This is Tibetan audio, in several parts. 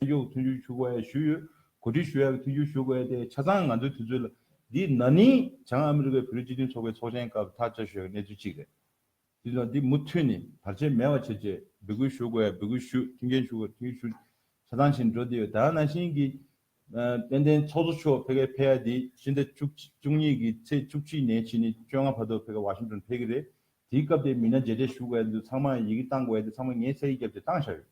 གཡོག་མཐུན་འགྱུར་ཞུ་དགོས་ཞུས་ཡོད། གོ་སྒྲིག་ཞུ་ཡག་གི་མཐུན་འགྱུར་ཞུ་དགོས་ཏེ་ཆ་ཚང་ང་ཚོའི་དུས་ཚོད་ལ། འདི་ན་ནིང་བྱང་ཨ་མི་རི་ཀའི་བོད་རིགས་སྤྱི་མཐུན་ཚོགས་པའི་ཚོགས་ཆེན་སྐབས་ཐག་བཅད་ཞུ་ཡག་གི་གནས་ཚུལ་གཅིག་རེད། དེ་ལ་འདི་མུ་མཐུད་ནས་བར་ཆད་མེད་པ་བྱེད་ཆེད་འབོད་སྐུལ་ཞུ་དགོས་འབོད་སྐུལ་ཞུས་མཐུན་རྐྱེན་ཞུ་དགོས་མཐུན་རྐྱེན་ཞུས། ཆ་ཚང་བྱས་ནས་འགྲོ་བསྡད་ཡོད་ད་ནང་བཞིན་གྱི། དཔལ་ལྡན་ཚོགས་གཙོ་མཆོག་ཕེབས་སྐབས་ཕེ་ཡ་དེ་སྤྱི་ཟླ་བཅུ་བཅུ་གཉིས་ཀྱི་ཚེས་བཅུ་གཅིག་ནས་ཕྱི་ནི་བཅོ་ལྔ་བར་དུ་ཕེབས་སྐབས་བྷ་ཤིང་ཏོན་ཕེབས་ཀྱི་རེད། དེའི་སྐབས་དེ་མི་སྣ་མཇལ་འཕྲད་ཞུ་དགོས་འདུག་ཚང་མ་ཡི་གེ་བཏང་དགོས་ཏེ་ཚང་མ་ངའི་ཚད་ཡིག་བརྒྱབ་སྟེ་བཏང་བཞག་ཡོད།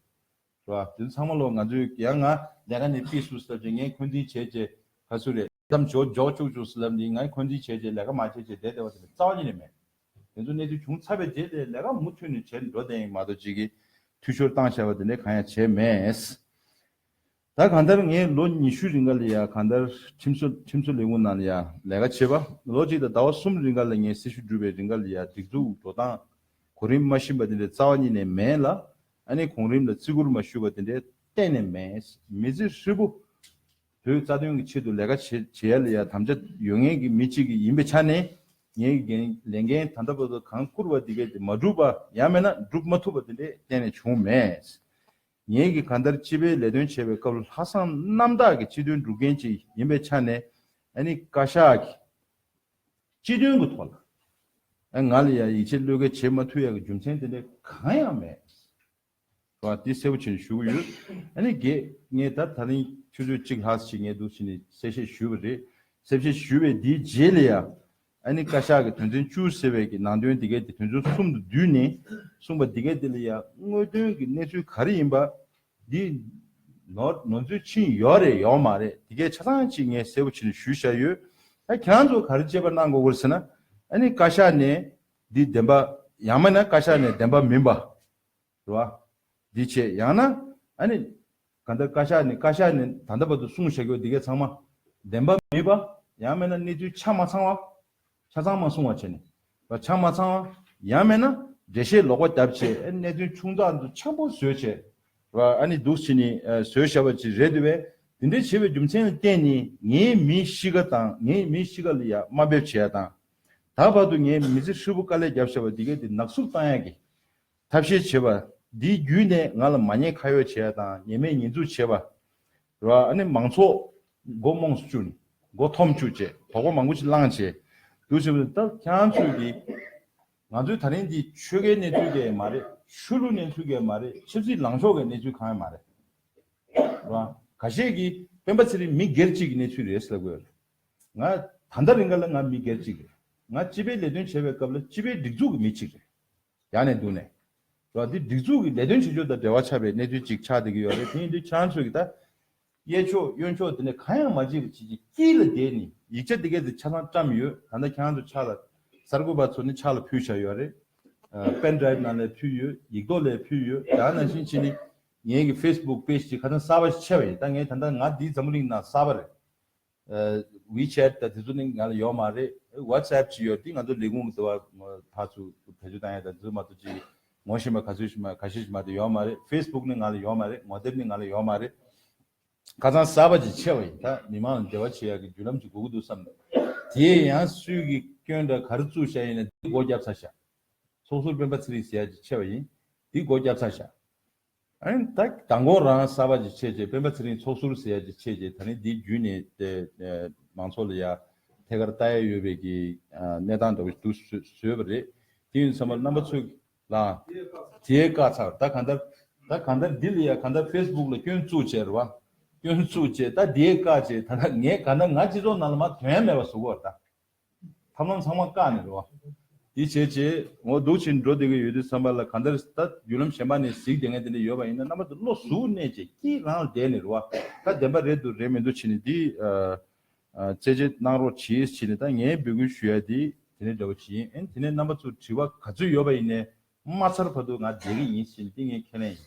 རེད་བ། དེ་ཚང་མ་ལོ་ང་ཚོས་གེ་ཡ་ང་ལས་ཀ་ནས་པིས་སུ་སི་ལབ་ཅེས་ངས་འཁོན་འཛིན་བྱས་ཅེས་ག་སུ་རེད། མཚམས་འཇོག་འཇོག་བཅུག་བཅུག་སི་ལབ་འདིས་ང་འཁོན་འཛིན་བྱས་ཅེས་ལས་ཀ་མ་བྱས་ཅེས་བསྡད་བསྡད་བ་དེ་ལས་རྩ་བ་ཉིད་ནས་མེད། དེ་ཚོ་གནས་ཚུལ་བྱུང་ཚར་བའི་རྗེས་དེ་ལས་ཀ་མུ་མཐུད་ནས་བྱས་འགྲོ་བསྡད་ཡིན་མ་གཏོགས་གཅིག་གིས་འཐུས་ཤོར་བཏང་བཞག་པ་དེ་འདྲའི་གང་ཡང་བྱས་མེད། ད་གང་ལྟར་ངས་ལོ་ཉི་ཤུའི་རིང་ག་ལ་ཡང་གང་ལྟར་ཁྲིམས་བཟོ་ཁྲིམས་བཟོ་ལས་ཁུངས་ནང་ལ་ཡང་ལས་ཀ་བྱས་པ་ལོ་གཅིག་དང་ཟླ་བ་གསུམ་རིང་ག་ལ་ངས་སྲི་ཞུ་སྒྲུབ་པའི་རིང་ག་ལ་ཡང་སྒྲིག་འཛུགས་འགྲོ་སྟངས་གོ་རིམ་མ་ཤིན་པ་དེ་ལས་རྩ་བ་ཉིད་ནས་མེད་ལ། ཨ་ནེ་གོང་རིམ་ལ་བརྩི་བཀུར་མ་ཞུས་པ་དེ་འདྲའི་གཏན་ནས་མེད། མི་ཚེ་ཧྲིལ་པོ་བོད་རྩ་དོན་གྱི་ཆེད་དུ་ལས་ཀ་བྱེད་ཡ་ལས་ཡ་དམ་བཅའ་ཡོད་ངེས་ཀྱི་མི་གཅིག་ཡིན་པའི་ཆ་ནས། ངའི་འགན་ལས་འགན་ད་ལྟ་བར་དུ་གང་བསྐུར་བ་དེ་གས་དེ་མ་བསྒྲུབས་པ་ཡང་མེད་ན་བསྒྲུབ་མ་ཐུབ་པ་དེ་འདྲའི་གཏན་ནས་བྱུང་མེད། ངེས་ཀྱི་གང་ལྟར་སྤྱི་པའི་ལས་དོན་བྱེད་པའི་སྐབས་ལྷག་བསམ་རྣམ་དག་གི་སྤྱི་དོན་སྒྲུབ་མཁན་ཅིག་ཡིན་པའི་ཆ་ནས་ཨ་ནེ་བཀའ་ཤག་གིས། སྤྱི་དོན་གྱི་ཐོག་ལ། ང་ལ་ཡང་ཡིད་ཆེས་བློས་འགེལ་བྱེད་མ་ཐུབ་ཡག་གི་རྒྱུ་མཚན་དེ་འདྲ་གང་ཡང་མེད། དེ་བ་དེ་གསལ་བོ་བྱེད་ནས་ཞུ་གི་ཡོད། ཨ་ནི་དགེ། ངས་ད་ད་རིང་ཆུ་ཚོད་གཅིག་ལྷག་ཞིག་ངའི་འདུག་ཕྱི་ནས་གསལ་བཤད་ཞུས་པ་རེད། གསལ་བཤད་ཞུས་པའི་དེའི་རྗེས་ལ་ཡང། ཨ་ནི་བཀའ་ཤག་གི་དོན་ཚན་བཅུ་ཟེར་བའི་གི་ནང་དོན་དེ་གའི་དེ་དོན་ཚན་གསུམ་དུ་བསྡུས་ནས་གསུངས་པ་དེ་གའི་དེ་ལ་ཡང་དངོས་དོན་གྱི་གནས་ཚུལ་ག་རེ་ཡིན་པ། འདི། ནོར་ནོར་འཛུལ་ཕྱིན་ཡོག་རེད་ཡོག་མ་རེད་དེ་གས་ཆ་ཚང་གཅིག་ངས་གསལ་པོ་བྱས་ནས་ཞུས་བཞག་ཡོད། ད་ཁྱེད་རང་ཚོ་ག་རེ་དཔྱད་པ་གནང་དགོས་གོ་རེ་ཟེར་ན། ཨ་ནི་བཀའ་ཤག་ནས་འདི་བདེན་པ། ཡང་མེད་ན་བཀའ་ཤག་ནས་བདེན་པ་མིན་པ། རེད་བ། འདི་བྱས་ཡང་ན། ཨ་ནི། ག་འདི་བཀའ་ཤག་ནས་བཀའ་ཤག་ནས་ད་ལྟ་བར་དུ་གསུངས་བཞག་ཡོད་འདི་གས་ཚང་མ། བདེན་པ་མིན་པ། ཡང་མེད་ན་གནས་ཚུལ་ཆ་མ་ཚང་བ། ཆ་ཚང་མ་སྲུང་བ་བྱས་ནས། ཆ་མ་ཚང་བ། ཡང་མེད་ན། འགྲེལ་བཤད་ལོག་པ་བརྒྱབ་བྱས། གནད་དོན་ཆུང་ཙག་འདུག་ཆེན་པོ་བཟོས་བྱས། ཨ་ནི་འདུག་བྱས་ནི་བཟོས་བྱས་པ་ཅིག་རེད་འདུག་བས། དེ་འདྲའི་བྱས་པའི་རྒྱུ་མཚན་ལ་བརྟེན་ནས་ངའི་མིའི་གཤིས་ཀ་དང་ངའི་མིའི་གཤིས་ཀ་ལ་ཡ་དམའ་འབེབས་བྱས་ཡ་དང། ད་བར་དུ་ངའི་མི་ཚེ་ཧྲིལ་པོ་དཀའ་ལས་བརྒྱབ་བྱས་པ་འདི་ག་དེ་ནག་བསུབ་བཏང་ཡ་གི། ཐབས་ཤེས་བྱེད་པ། འདིའི་བརྒྱུད་ནས་ང་ལ་མ་ཉེས་ཁ་ཡོག་བྱེད་པ་དང་ཉེས་མེད་ཉེས་འཛུགས་བྱེད་པ། རོ་ཨ་ནི་མང་ཚོགས། མགོ་རྨོངས་སུ་བཅུག་ནས། མགོ་འཐོམ་བཅུག་བཅས་དོགས་པ་མང་པོ་ཞིག་བསླངས་བྱས། འདུག་བྱས་པ་དང་སྟབས་ཁྱང་ཚོས་དེ། ང་ཚོའི་ད་རིང་འདི་ཆོལ་ཁའི་གནས་ཚུལ་གས་མ་རེད། ཆོས་ལུགས་གནས་ཚུལ་གས་མ་རེད་ཆབ་སྲིད་ལངས་ཕྱོགས་གས་གནས་ཚུལ་གང་ཡང་མ་རེད། རོ་ཨ། ག་ཤེད་ཀྱི། སྤེན་པ་ཚེ་རིང་མི་སྒེར་གཅིག་གི་གནས་ཚུལ་རེད་ཟེར་དགོས་རེད། ང། ད་ལྟ་རིང་ག་ལ་ང་མི་སྒེར་གཅིག་རེད། ང་སྤྱི་པའི་ལས་དོན་བྱས་པའི་སྐབས་ལ་སྤྱི་པའི་སྒྲིག་འཛུགས་ཀྱི་མི་གཅིག་རེད། ཡག་ནས་འདུག་ནས། ལ་འདི་སྒྲིག་འཛུགས་ཀྱི་ལས་དོན་བྱེད་ཕྱོགས་དང་འབྲེལ་བ་ཆགས་པའི་གནས་ཚུལ་ཅིག་ཆགས་བསྡད་ཀྱི་ཡོད་རེད་དེ་ཡིན་དུས་ཁྱེད་རང་ཚོས་ཀྱི་ད། གཡས་ཕྱོགས་གཡོན་ཕྱོགས་དེ་ནས་གང་ཡང་མ་བརྗེད་པའི་བྱེད་ཀྱི་དཀྱིལ་ལ་བསྡད་ནས་ཡིག་ཆ་དེ་སྐད་དེ་ཆ་ཚང་བཀྲམས་ཡོད་ད་ལྟ་ཁྱེད་རང་ཚོ་ཕྱག་ལ། གསར་འགོད་པ་ཚོ་ནི་ཕྱག་ལ་ཕུལ་བཞག་ཡོད་རེད། Pen Drive ནང་ལས་ཕུལ་ཡོད་ཡིག་རྡོག་ལས་ཕུལ་ཡོད་ཡང་ནང་བཞིན་ཕྱིན་ནི། ངེད་ཀྱི Facebook Page དེ་ཁ་ཚང་གསར་པ་ཞིག་ཕྱེ་བ་ཡིན་ད་ངས་ད་ལྟ་ང་འདིའི་འཛམ་བུ་གླིང་ནང་གསར་པ་རེད། WeChat དང་དེ་ཚོ་ནི་ང་ལ་ཡོད་མ་རེད། WhatsApp ཅིག་ཡོད་དེ་ང་ཚོ་ལས་ཁུངས་ཀྱི་དྲ་བ་དག་ཚོ་བེད་སྤྱོད་བཏང་ཡོད་དང་དེ་ཚོ་མ་གཏོགས་ཅི་ངོ་ཤེས་མ་ག་ཚོད་ཤེས་མ་ག་ཤེས་ཤེས་མ་དེ་ཡོད་མ་རེད། Facebook ནི་ང་ལ་ཡོད་མ་རེད་ངོ་དེབ་ནི་ང་ལ་ཡོད་མ་རེད། ཁ་སང་གསར་པ་ཅིག་ཆད་པ་ཡིན་ད་མི་མང་ལ་འབྲེལ་བ་བྱེད་ཡག་གི་བརྒྱུད་ལམ་ཅིག་དགོས་ཀྱི་འདུག་བསམ་ནས། དེའི་ཡང་སུས་ཀྱི་སྐྱོན་འདྲ་ག་རེ་བཙུགས་བཞག་ཡིན་ན་དེ་སྒོ་བརྒྱབ་ཚར་བཞག། ཚོགས་ཟུར་སྤེན་པ་ཚེ་རིང་ཟེར་ཡ་ཅིག་ཆད་པ་ཡིན་དེ་སྒོ་བརྒྱབ་ཚར་བཞག། མདང་དགོང་རང་གསར་པ་ཅིག་ཆེད་ཅེས་སྤེན་པ་ཚེ་རིང་ཚོགས་ཟུར་ཟེར་ཡ་ཅིག་ཆེད་ཅེས་ད་ནི་འདི་བརྒྱུད་ནས་མང་ཚོགས་ལ་ཡ་ཐད་ཀར་བལྟ་ཡ་ཡོད་པའི་གི་གནས་སྟངས་འདྲ་བོ་ཞིག་འདུག་བཟོས་པ་རེད། དེ་ཡིན་ཚང་མ་རྣམ་པ་ཚོས་ལའང། དེའི་བཀའ་ཚག་ད་གང་ལྟར། ད་གང་ལྟར་འདི་ལ་ཡ་གང་ལྟར facebook ལ་སྐྱོན་བཙུགས་བྱས་ར་བ། སྐྱོན་བཙུགས་བྱས་ད་དེའི་བཀའ་བྱས་ད་ད་ངས་གང་ལྟར་ང་སྤྱི་ཚོགས་ནང་ལ་མ་དོན་མེད་པ་བཟོ་གོ་ར་ད། ཐབས་ལམ་ཚང་མ་བཀག་ནས་རེད་བ། དེ་བྱས་བྱས་འོ་སྡུག་ཕྱིན་འགྲོ་བསྡད་ཀྱི་ཡོད་དུས་བསམ་པ་ལ་ག་འདིར་ད་བརྒྱུད་ལམ་གཞན་པ་ནས་གཟིགས་བསྡད་མཁན་དེ་འདྲ་ཡོད་པ་ཡིན་ན་རྣམ་པ་དེ་བློ་གཟུ་གནས་བཅས་སྐྱིད་རང་ལ་བསྡད་ནས་རེད་བ། ད་བདེན་པ་རེད་འདུག་རེད་མི་འདུག་བྱས་ནས་དེ། རྩད་བཅད་གནང་རོགས་གྱིས་བྱས་ནས་ད་ངས་འབོད་སྐུལ་ཞུ་ཡ་དེ་དེ་ནས་འདྲ་བོ་བྱས་ཨེ་དེ་ནས་རྣམ་པ་ཚོ་དྲི་བ་ག་ཚོད་ཡོད་པ་ཡིན་ནས་མ་ཚར་བར་དུ་ང་བསྡད་ཀྱི་ཡིན་བྱས་ནས་དེ་ངས་ཁས་ལེན་ཡིན།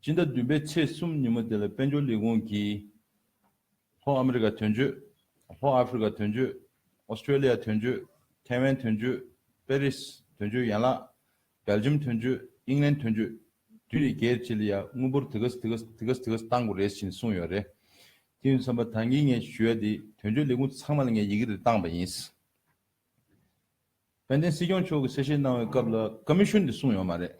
སྤྱི་ཟླ་བདུན་པའི་ཚེས་གསུམ་ཉིན་མོ་དེ་ལ་དཔལ་འབྱོར་ལས་ཁུངས་ཀྱིས། ལྷོ་ཨ་མེ་རི་ཀ་དོན་གཅོད། ལྷོ་ཨ་ཧྥེ་རི་ཀ་དོན་གཅོད། Australia དོན་གཅོད། ཐེ་ཝན་དོན་གཅོད། པེ་རིས་དོན་གཅོད་ཡན་ལག། Belgium དོན་གཅོད། ཨིང་ལན་དོན་གཅོད། དུས་རེ་བརྒྱད་ཅི་ལ་ཡ་དངུལ་འབོར་དེ་གསདེ་གསདེ་གསདེ་གསདེ་གཏང་དགོས་རེད་བཞིན་གསུངས་ཡོད་རེད། དེ་ཡིན་བསམ་པ་ད་ངས་ངས་ཞུ་ཡ་དེ་དོན་གཅོད་ལས་ཁུངས་ཚང་མ་ལ་ངས་ཡི་གེ་རེ་བཏང་བ་ཡིན། དཔལ་ལྡན་སྲིད་སྐྱོང་མཆོག་གིས་གསལ་བཤད་གནང་བའི་སྐབས་ལ་ཀ་མི་ཤོན་དེ་གསུངས་ཡོད་མ་རེད།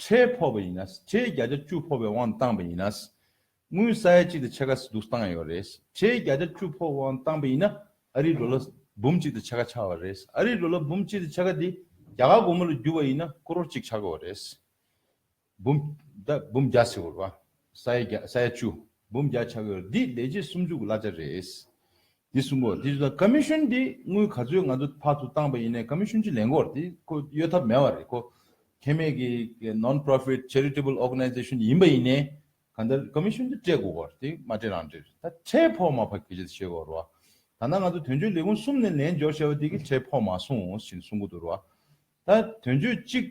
ཁྲལ་ཕོག་པ་ཡིན་ན། ཁྲལ་བརྒྱ་ཆ་བཅུ་ཕོག་པའི་དབང་དུ་བཏང་པ་ཡིན་ན། དངུལ་ས་ཡ་གཅིག་དང་ཕྱེད་ཀ་སི་ཏུ་བཏང་ཡོད་རེད། ཁྲལ་བརྒྱ་ཆ་བཅུ་ཕོག་པའི་དབང་དུ་བཏང་པ་ཡིན་ན། ཨ་རིའི་འགྲོ་ལ་འབུམ་གཅིག་དང་ཕྱེད་ཀ་ཆག་བ་རེད། ཨ་རིའི་འགྲོ་ལ་འབུམ་གཅིག་དང་ཕྱེད་ཀ་དེ་རྒྱ་གར་སྒོར་མོ་ལ་བསྒྱུར་བ་ཡིན་ན་ཀོ་རོར་གཅིག་ཆག་དགོས་པ་རེད། འབུམ། འབུམ་བརྒྱ་སི་ཧོར་བ། ས་ཡ་བརྒྱ་ས་ཡ་བཅུ་འབུམ་བརྒྱ་ཆགས་ཡོད་འདི་ལས་རྗེས་གསུམ་འཇུག་གླ་ཆ་རེད། འདི་གསུམ་པོ་དེ་བཞིན་ཀ་མི་ཤོན་དེ་དངུལ་ག་ཚོད་ང་ཚོ་ཕག་ཏུ་བཏང་པ་ཡིན་ནས་ཀ་མི་ཤོན་གྱི་ལས་འགོར་དེ་ཁོ་གཡོལ་ཐབས་མེད་བ་རེད་ཁོ་ཁྱད་མེད་ཀྱི Non Profit Charitable Organization ཡིན་པ་ཡིན་ནས་ག་འདིར་ཀ་མི་ཤོན་དེ་སྤྲད་དགོས་བར་དེ་མ་སྤྲད་རང་སྤྲད་རེད་ད་ཁྲལ་ཕོག་མ་ཕ་གི་རྗེས་ཤེས་དགོས་རེད་བ་ད་ནང་ང་ཚོ་དོན་གཅོད་ལས་ཁུངས་གསུམ་ནས་ལན་འབྱོར་བྱས་བ་དེ་གི་ཁྲལ་ཕོག་མ་སོང་ཞིན་གསུང་གི་འདུག་རེད་བ། ད་དོན་གཅོད་གཅིག་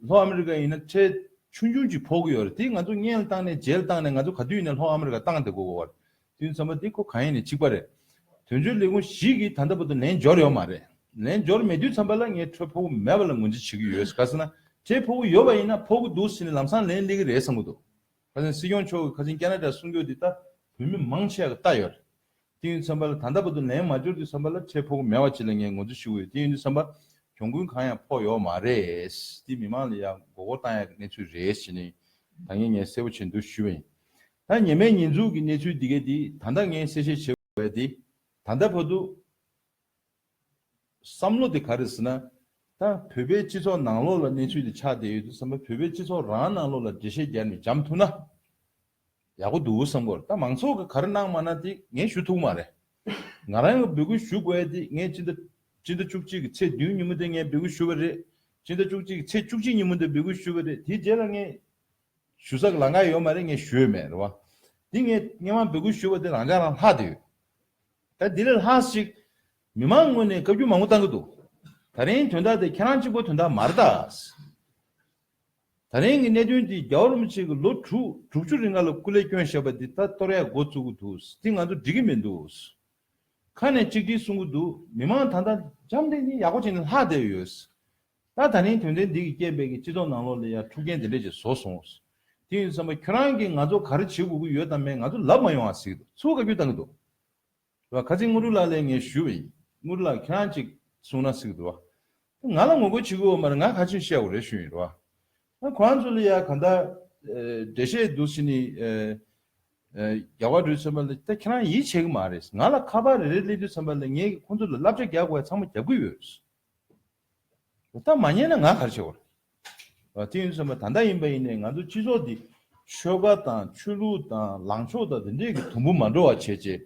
ལྷོ་ཨ་མི་རི་ཀ་ཡིན་ན་ཁྲལ་ཆུང་ཆུང་ཅིག་འཕོག་གི་ཡོད་རེད་དེ་ང་ཚོ་བརྙན་བཏང་ནས་མཇལ་བཏང་ནས་ང་ཚོ་ག་དུས་ནས་ལྷོ་ཨ་མི་རི་ཀ་བཏང་དེ་གོ་གོ་བར་དུས་མཚམས་པ་དེ་ཁོ་ག་ཡིན་ནས་གཅིག་པ་རེད་དོན་གཅོད་ལས་ཁུངས་ཞིག་གིས་ད་ལྟ་བར་དུ་ལན་འབྱོར་ཡོད་མ་རེད་ལན་འབྱོར་མེད་དུས་མཚམས་པ་ལ་ངས་ཁྲལ་འཕོག་གི་མེད་པ་ལ་ངོས་འཛིན་བྱེད་ཀྱི་ཡོད་ག་ཟེར་ན་ཁྲལ་འཕོག་གི་ཡོད་པ་ཡིན་ན་འཕོག་གི་འདུག་ཟེར་ནས་ལམ་སང་ལན་སླེབས་ཀྱི་རེད་བསམ་གྱི་འདུག། ཁ་ཆེན་སྲིད་སྐྱོང་མཆོག་གི་ཁ་ཆེན་ཀ་ན་རཱ་གསུང་བསྐྱོད་འདི་ལྟ་བུ་མི་མང་ཆེ་བ་ལྟ་ཡོད། དེ་ཡུན་ཚན་པ་ལ་ད་ལྟ་བར་དུ་ལན་མ་འབྱོར་དུས་བསམ་པ་ལ་འཕྲལ་ཕོག་མེད་བ་ཅི་ལ་ངས་ངོ་ཚུལ་ཞུ་གི་ཡོད་དེ་ཡུན་དུ་བསམ་པ་གྱོང་གུན་གང་ཡང་ཕོག་ཡོག་མ་རེད་དེ་མི་མང་ལ་ཡང་མགོ་སྐོར་བཏང་ཡག་གི་གནས་ཚུལ་རེད་ཞེ་ནི་ད་ངས་ངས་གསལ་བོ་བྱེད་འདུག་ཞུ་བའི་ད་ཉེ་མའི་ཉེས་འཛུགས་གི་གནས་ཚུལ་འདི་གའི་དེ་ད་ད་ངས་གསལ་བཤད་བྱེད་དགོས་པའི་དེ་ད་ད་བར་དུ། བསམ་བློ་དེ་ག་རེ་ཟེར་ན། ད་བོད་པའི་སྤྱི་ཚོགས་ནང་ལོགས་ལ་གནས་ཚུལ་དེ་ཆགས་བསྡད་ཡོད་དུས་སམ་བོད་པའི་སྤྱི་ཚོགས་རང་ནང་ལོགས་ལ་འགྲེལ་བཤད་རྒྱག་ནས་འཇམ་ཐུག་ན། ཡག་པོ་འདུག་བསམ་གོ་ད་མང་ཚོགས་ཀྱི་ག་རེ་གནང་མ་གནང་དེ་ངས་ཞུ་ཐུག་མ་རེད། ང་རང་གི་འབོད་སྐུལ་ཞུ་དགོས་ཡ་དེ་ངས་སྤྱི་ཟླ། སྤྱི་ཟླ་བཅུ་གཅིག་གི་ཚེས་བདུན་ཉིན་མོ་དེ་ངས་འབོད་སྐུལ་ཞུ་བ་རེད། སྤྱི་ཟླ་བཅུ་གཅིག་གི་ཚེས་བཅུ་གཅིག་ཉིན་མོ་དེ་འབོད་སྐུལ་ཞུ་བ་རེད་དེའི་རྗེས་ལ་ངས། ཞུ་ས་གི་ལང་ཀ་ཡོད་མ་རེད་ངས་ཞུས་མེད་རེད་བ། དེ་ངས་སྔན་མ་འབོད་སྐུལ་ཞུས་བ་དེ་རང་ཅག་རང་ལྷག་བསྡད་ཡོད། ད་འདི་ལས་ལྷག་ཅིག་མི་མང་ངོས་ནས་བཀའ་བརྒྱུད་མང་པོ་བཏང་གི་འདུག་ད་རིང་དོན་དག་དེ་ཁྱེད་རང་གཅིག་པོ་དོན་དག་མར་བཏགས། ད་རིང་གི་གནད་དོན་འདི་རྒྱ་རོམ་གཅིག་གི་ལོ་དྲུག་དྲུག་ཅུ་རིང་ང་ལ་སྐུ་ལས་སྐྱོན་བཞག་པ་འདི་ད་གཏོར་ཡ་འགོ་བཙུགས་གི་འདུག་དེ་ང་ཚོ་འགྲིག་གི་མི་འདུག་ཁ་ནས་གཅིག་སྒྲིལ་གསུང་གི་འདུག་མི་མང་ད་ལྟ་འཇམ་དེ་ནི་ཡག་པོ་བྱས་ནས་ལྷག་བསྡད་ཡོད། ད་ད་རིང་དོན་ལྡན་འདི་གི་སྐྱེས་དཔལ་གྱི་སྤྱི་ཚོགས་ནང་ལོག་ལས་ཡར་འཁྲུག་རྐྱེན་དེ་འདྲས་ཅིག་བཟོ་སོང་བས། དེ་ཡིན་བསམ་པ་ཁྱོད་རང་གིས་ང་ཚོ་ག་རེ་བྱེད་དགོས་ཀྱི་ཡོད་དམ་མེད་ང་ཚོ་ལབ་མ་ཡོང་བ་ཟིག་ཏུ་ཚུར་བཀའ་བརྒྱུད་བཏང་གི་འདུག་བ། ཁ་ཅིག་དངོས་གྲུབ་ལགས་ལས་ངས་ཞུས་པ་ཡིན། དངོས་གྲུབ་ལགས་ཁྱེད་རང་ཅིག་གསུང་ན་ཟིག་ཏུ་བ། ང་ལ་ངོ་རྒོལ་བྱེད་ཀྱི་འོག་མར་ང་ག་ཅིག་བཤད་དགོས་རེད་ཞུས་ཡིན་རེད་བ། ཁོ་རང་ཚོ་ལ་ཡར་ག་འདྲ་འདྲས་བཤད་འདུག་ཟེར་ནས། རྒྱ་གར་རུའི་ཚོན་པ་ལ་ད་ཁྱེད་རང་ཡིད་ཆེས་ཀྱི་མ་རེད། ང་ལ་ཁ་པར་རེ་རེ་སླེབས་དུས་ཚོན་པ་ལ་ངས་ཁོ་ཚོ་ལ་བསླབ་བྱ་རྒྱག་དགོས་ཡ་ཚང་མ་རྒྱག་གི་ཡོད། ད་མ་ཉན་ན་ང་གར་ཆས་བར། དེ་ཡིན་བསམ་པ་ད་ལྟ་ཡིན་པ་ཡིན་ནས་ང་ཚོ་སྤྱི་ཚོགས་འདི་ཆོལ་ཁ་དང་ཆོས་ལུགས་དང་ལངས་ཕྱོགས་དང་དེ་འདྲས་ཀྱི་དུམ་བུ་མ་འགྲོ་བ་བྱས་རྗེས་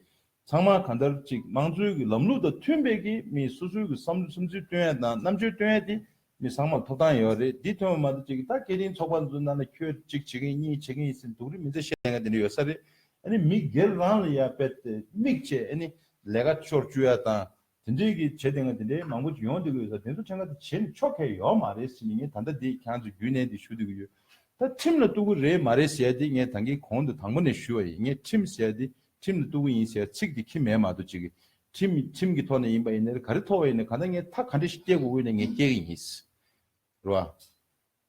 ཚང་མ་གང་ལྟར་ཅིག་དམངས་གཙོའི་གྱི་ལམ་ལུགས་དང་མཐུན་པའི་གྱི་མི་སོ་སོའི་གྱི་བསམ་བློ་སེམས་ཚུལ་བཏོན་ཡ་དང་རྣམ་དཔྱོད་བཏོན་ཡ་དེ་མི་ཚང་མར་ཐོབ་ཐང་ཡོད་རེད་འདི་ཐོན་པ་མ་གཏོགས་ཅིག་ད་སྐད་རིང་ཚོགས་པ་འདུ་ན་ན་ཁྱོད་གཅིག་བྱེད་མཁན་གཉིས་བྱེད་མཁན་ཡིན་ཟེར་འདུག་རེད་མི་ཚེ་ཤེས་ལས་ཀ་དེ་འདྲས་ཡོད་ས་རེད་ཨ་ནི་མི་སྒེར་རང་ལ་ཡ་དཔེ་དེ་དམིགས་བྱས་ཨ་ནི་ལས་ཀ་ཤོར་བཅུག་ཡ་དང་དེ་འདྲའི་གི་བྱེད་དེ་འང་དེ་འདྲའི་མང་པོ་ཡོང་དེ་གི་ཡོད་ས་དེ་ཚོ་ཕྲན་ག་དེ་བྱེད་ནི་ཆོག་གས་ཡོག་མ་རེད་སེམས་ངས་ད་ལྟ་དེ་གང་ཚོ་རྒྱུས་ནས་དེ་ཞུ་དེ་གི་ཡོད་ད་ཁྲིམས་ལ་གཏུག་གི་རེད་མ་རེད་ཟེར་དེ་ངས་ད་གི་གོང་དུ་དང་པོ་ནས་ཞུ་བ་ཡིན་ངས་ཁྲིམས་ཟེར་དེ་ཁྲིམས་ལ་གཏུག་གི་ཡིན་ཟེར་ཚིག་དེ་ཁྱི་མས་མ་གཏོགས་ཅི་གི་ཁྲིམས་ཁྲིམས་གི་ཐོག་ནས་ཡིན་པ་ཡིན་ནའི་ག་རེ་ཐོག་ཡིན་ནའི་གང་ད་ངས་ཐག་ག་འདྲ་ཞིག་བཀྱེད་དགོས་དགོས་ནས་ངས་བཀྱེད་གི་ཡིན། རེད་བ།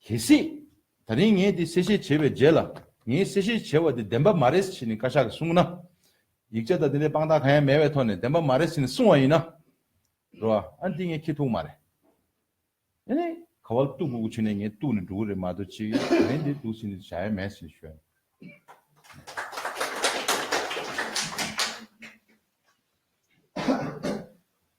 གལ་སྲིད། ད་རིང་ངས་འདི་གསལ་བཤད་བྱས་པའི་རྗེས་ལ་ངས་གསལ་བཤད་བྱས་བ་དེ་བདེན་པ་མ་རེད་ཟེར་ནས་བཀའ་ཤག་གིས་གསུངས་ན། ཡིག་ཆ་དང་དེ་འདྲའི་དཔང་རྟགས་གང་ཡང་མེད་པའི་ཐོག་ནས་བདེན་པ་མ་རེད་ཟེར་ནས་གསུངས་བ་ཡིན་ན། རེད་བ། ཨ་འདི་ངས་ཁྱི་ཐུག་མ་རེད། ཨེ་ནས། ག་བལ་གཏུག་དགོས་ཀྱི་ཆོད་ནས་ངས་གཏུག་ནས་འགྲོ་གི་རེད་མ་གཏོགས་ཅི། ད་རིང་འདི་གཏུག་ཟིན་ནས་བྱ་ཡ་མེད་ཟེར་ནས་ཤོད།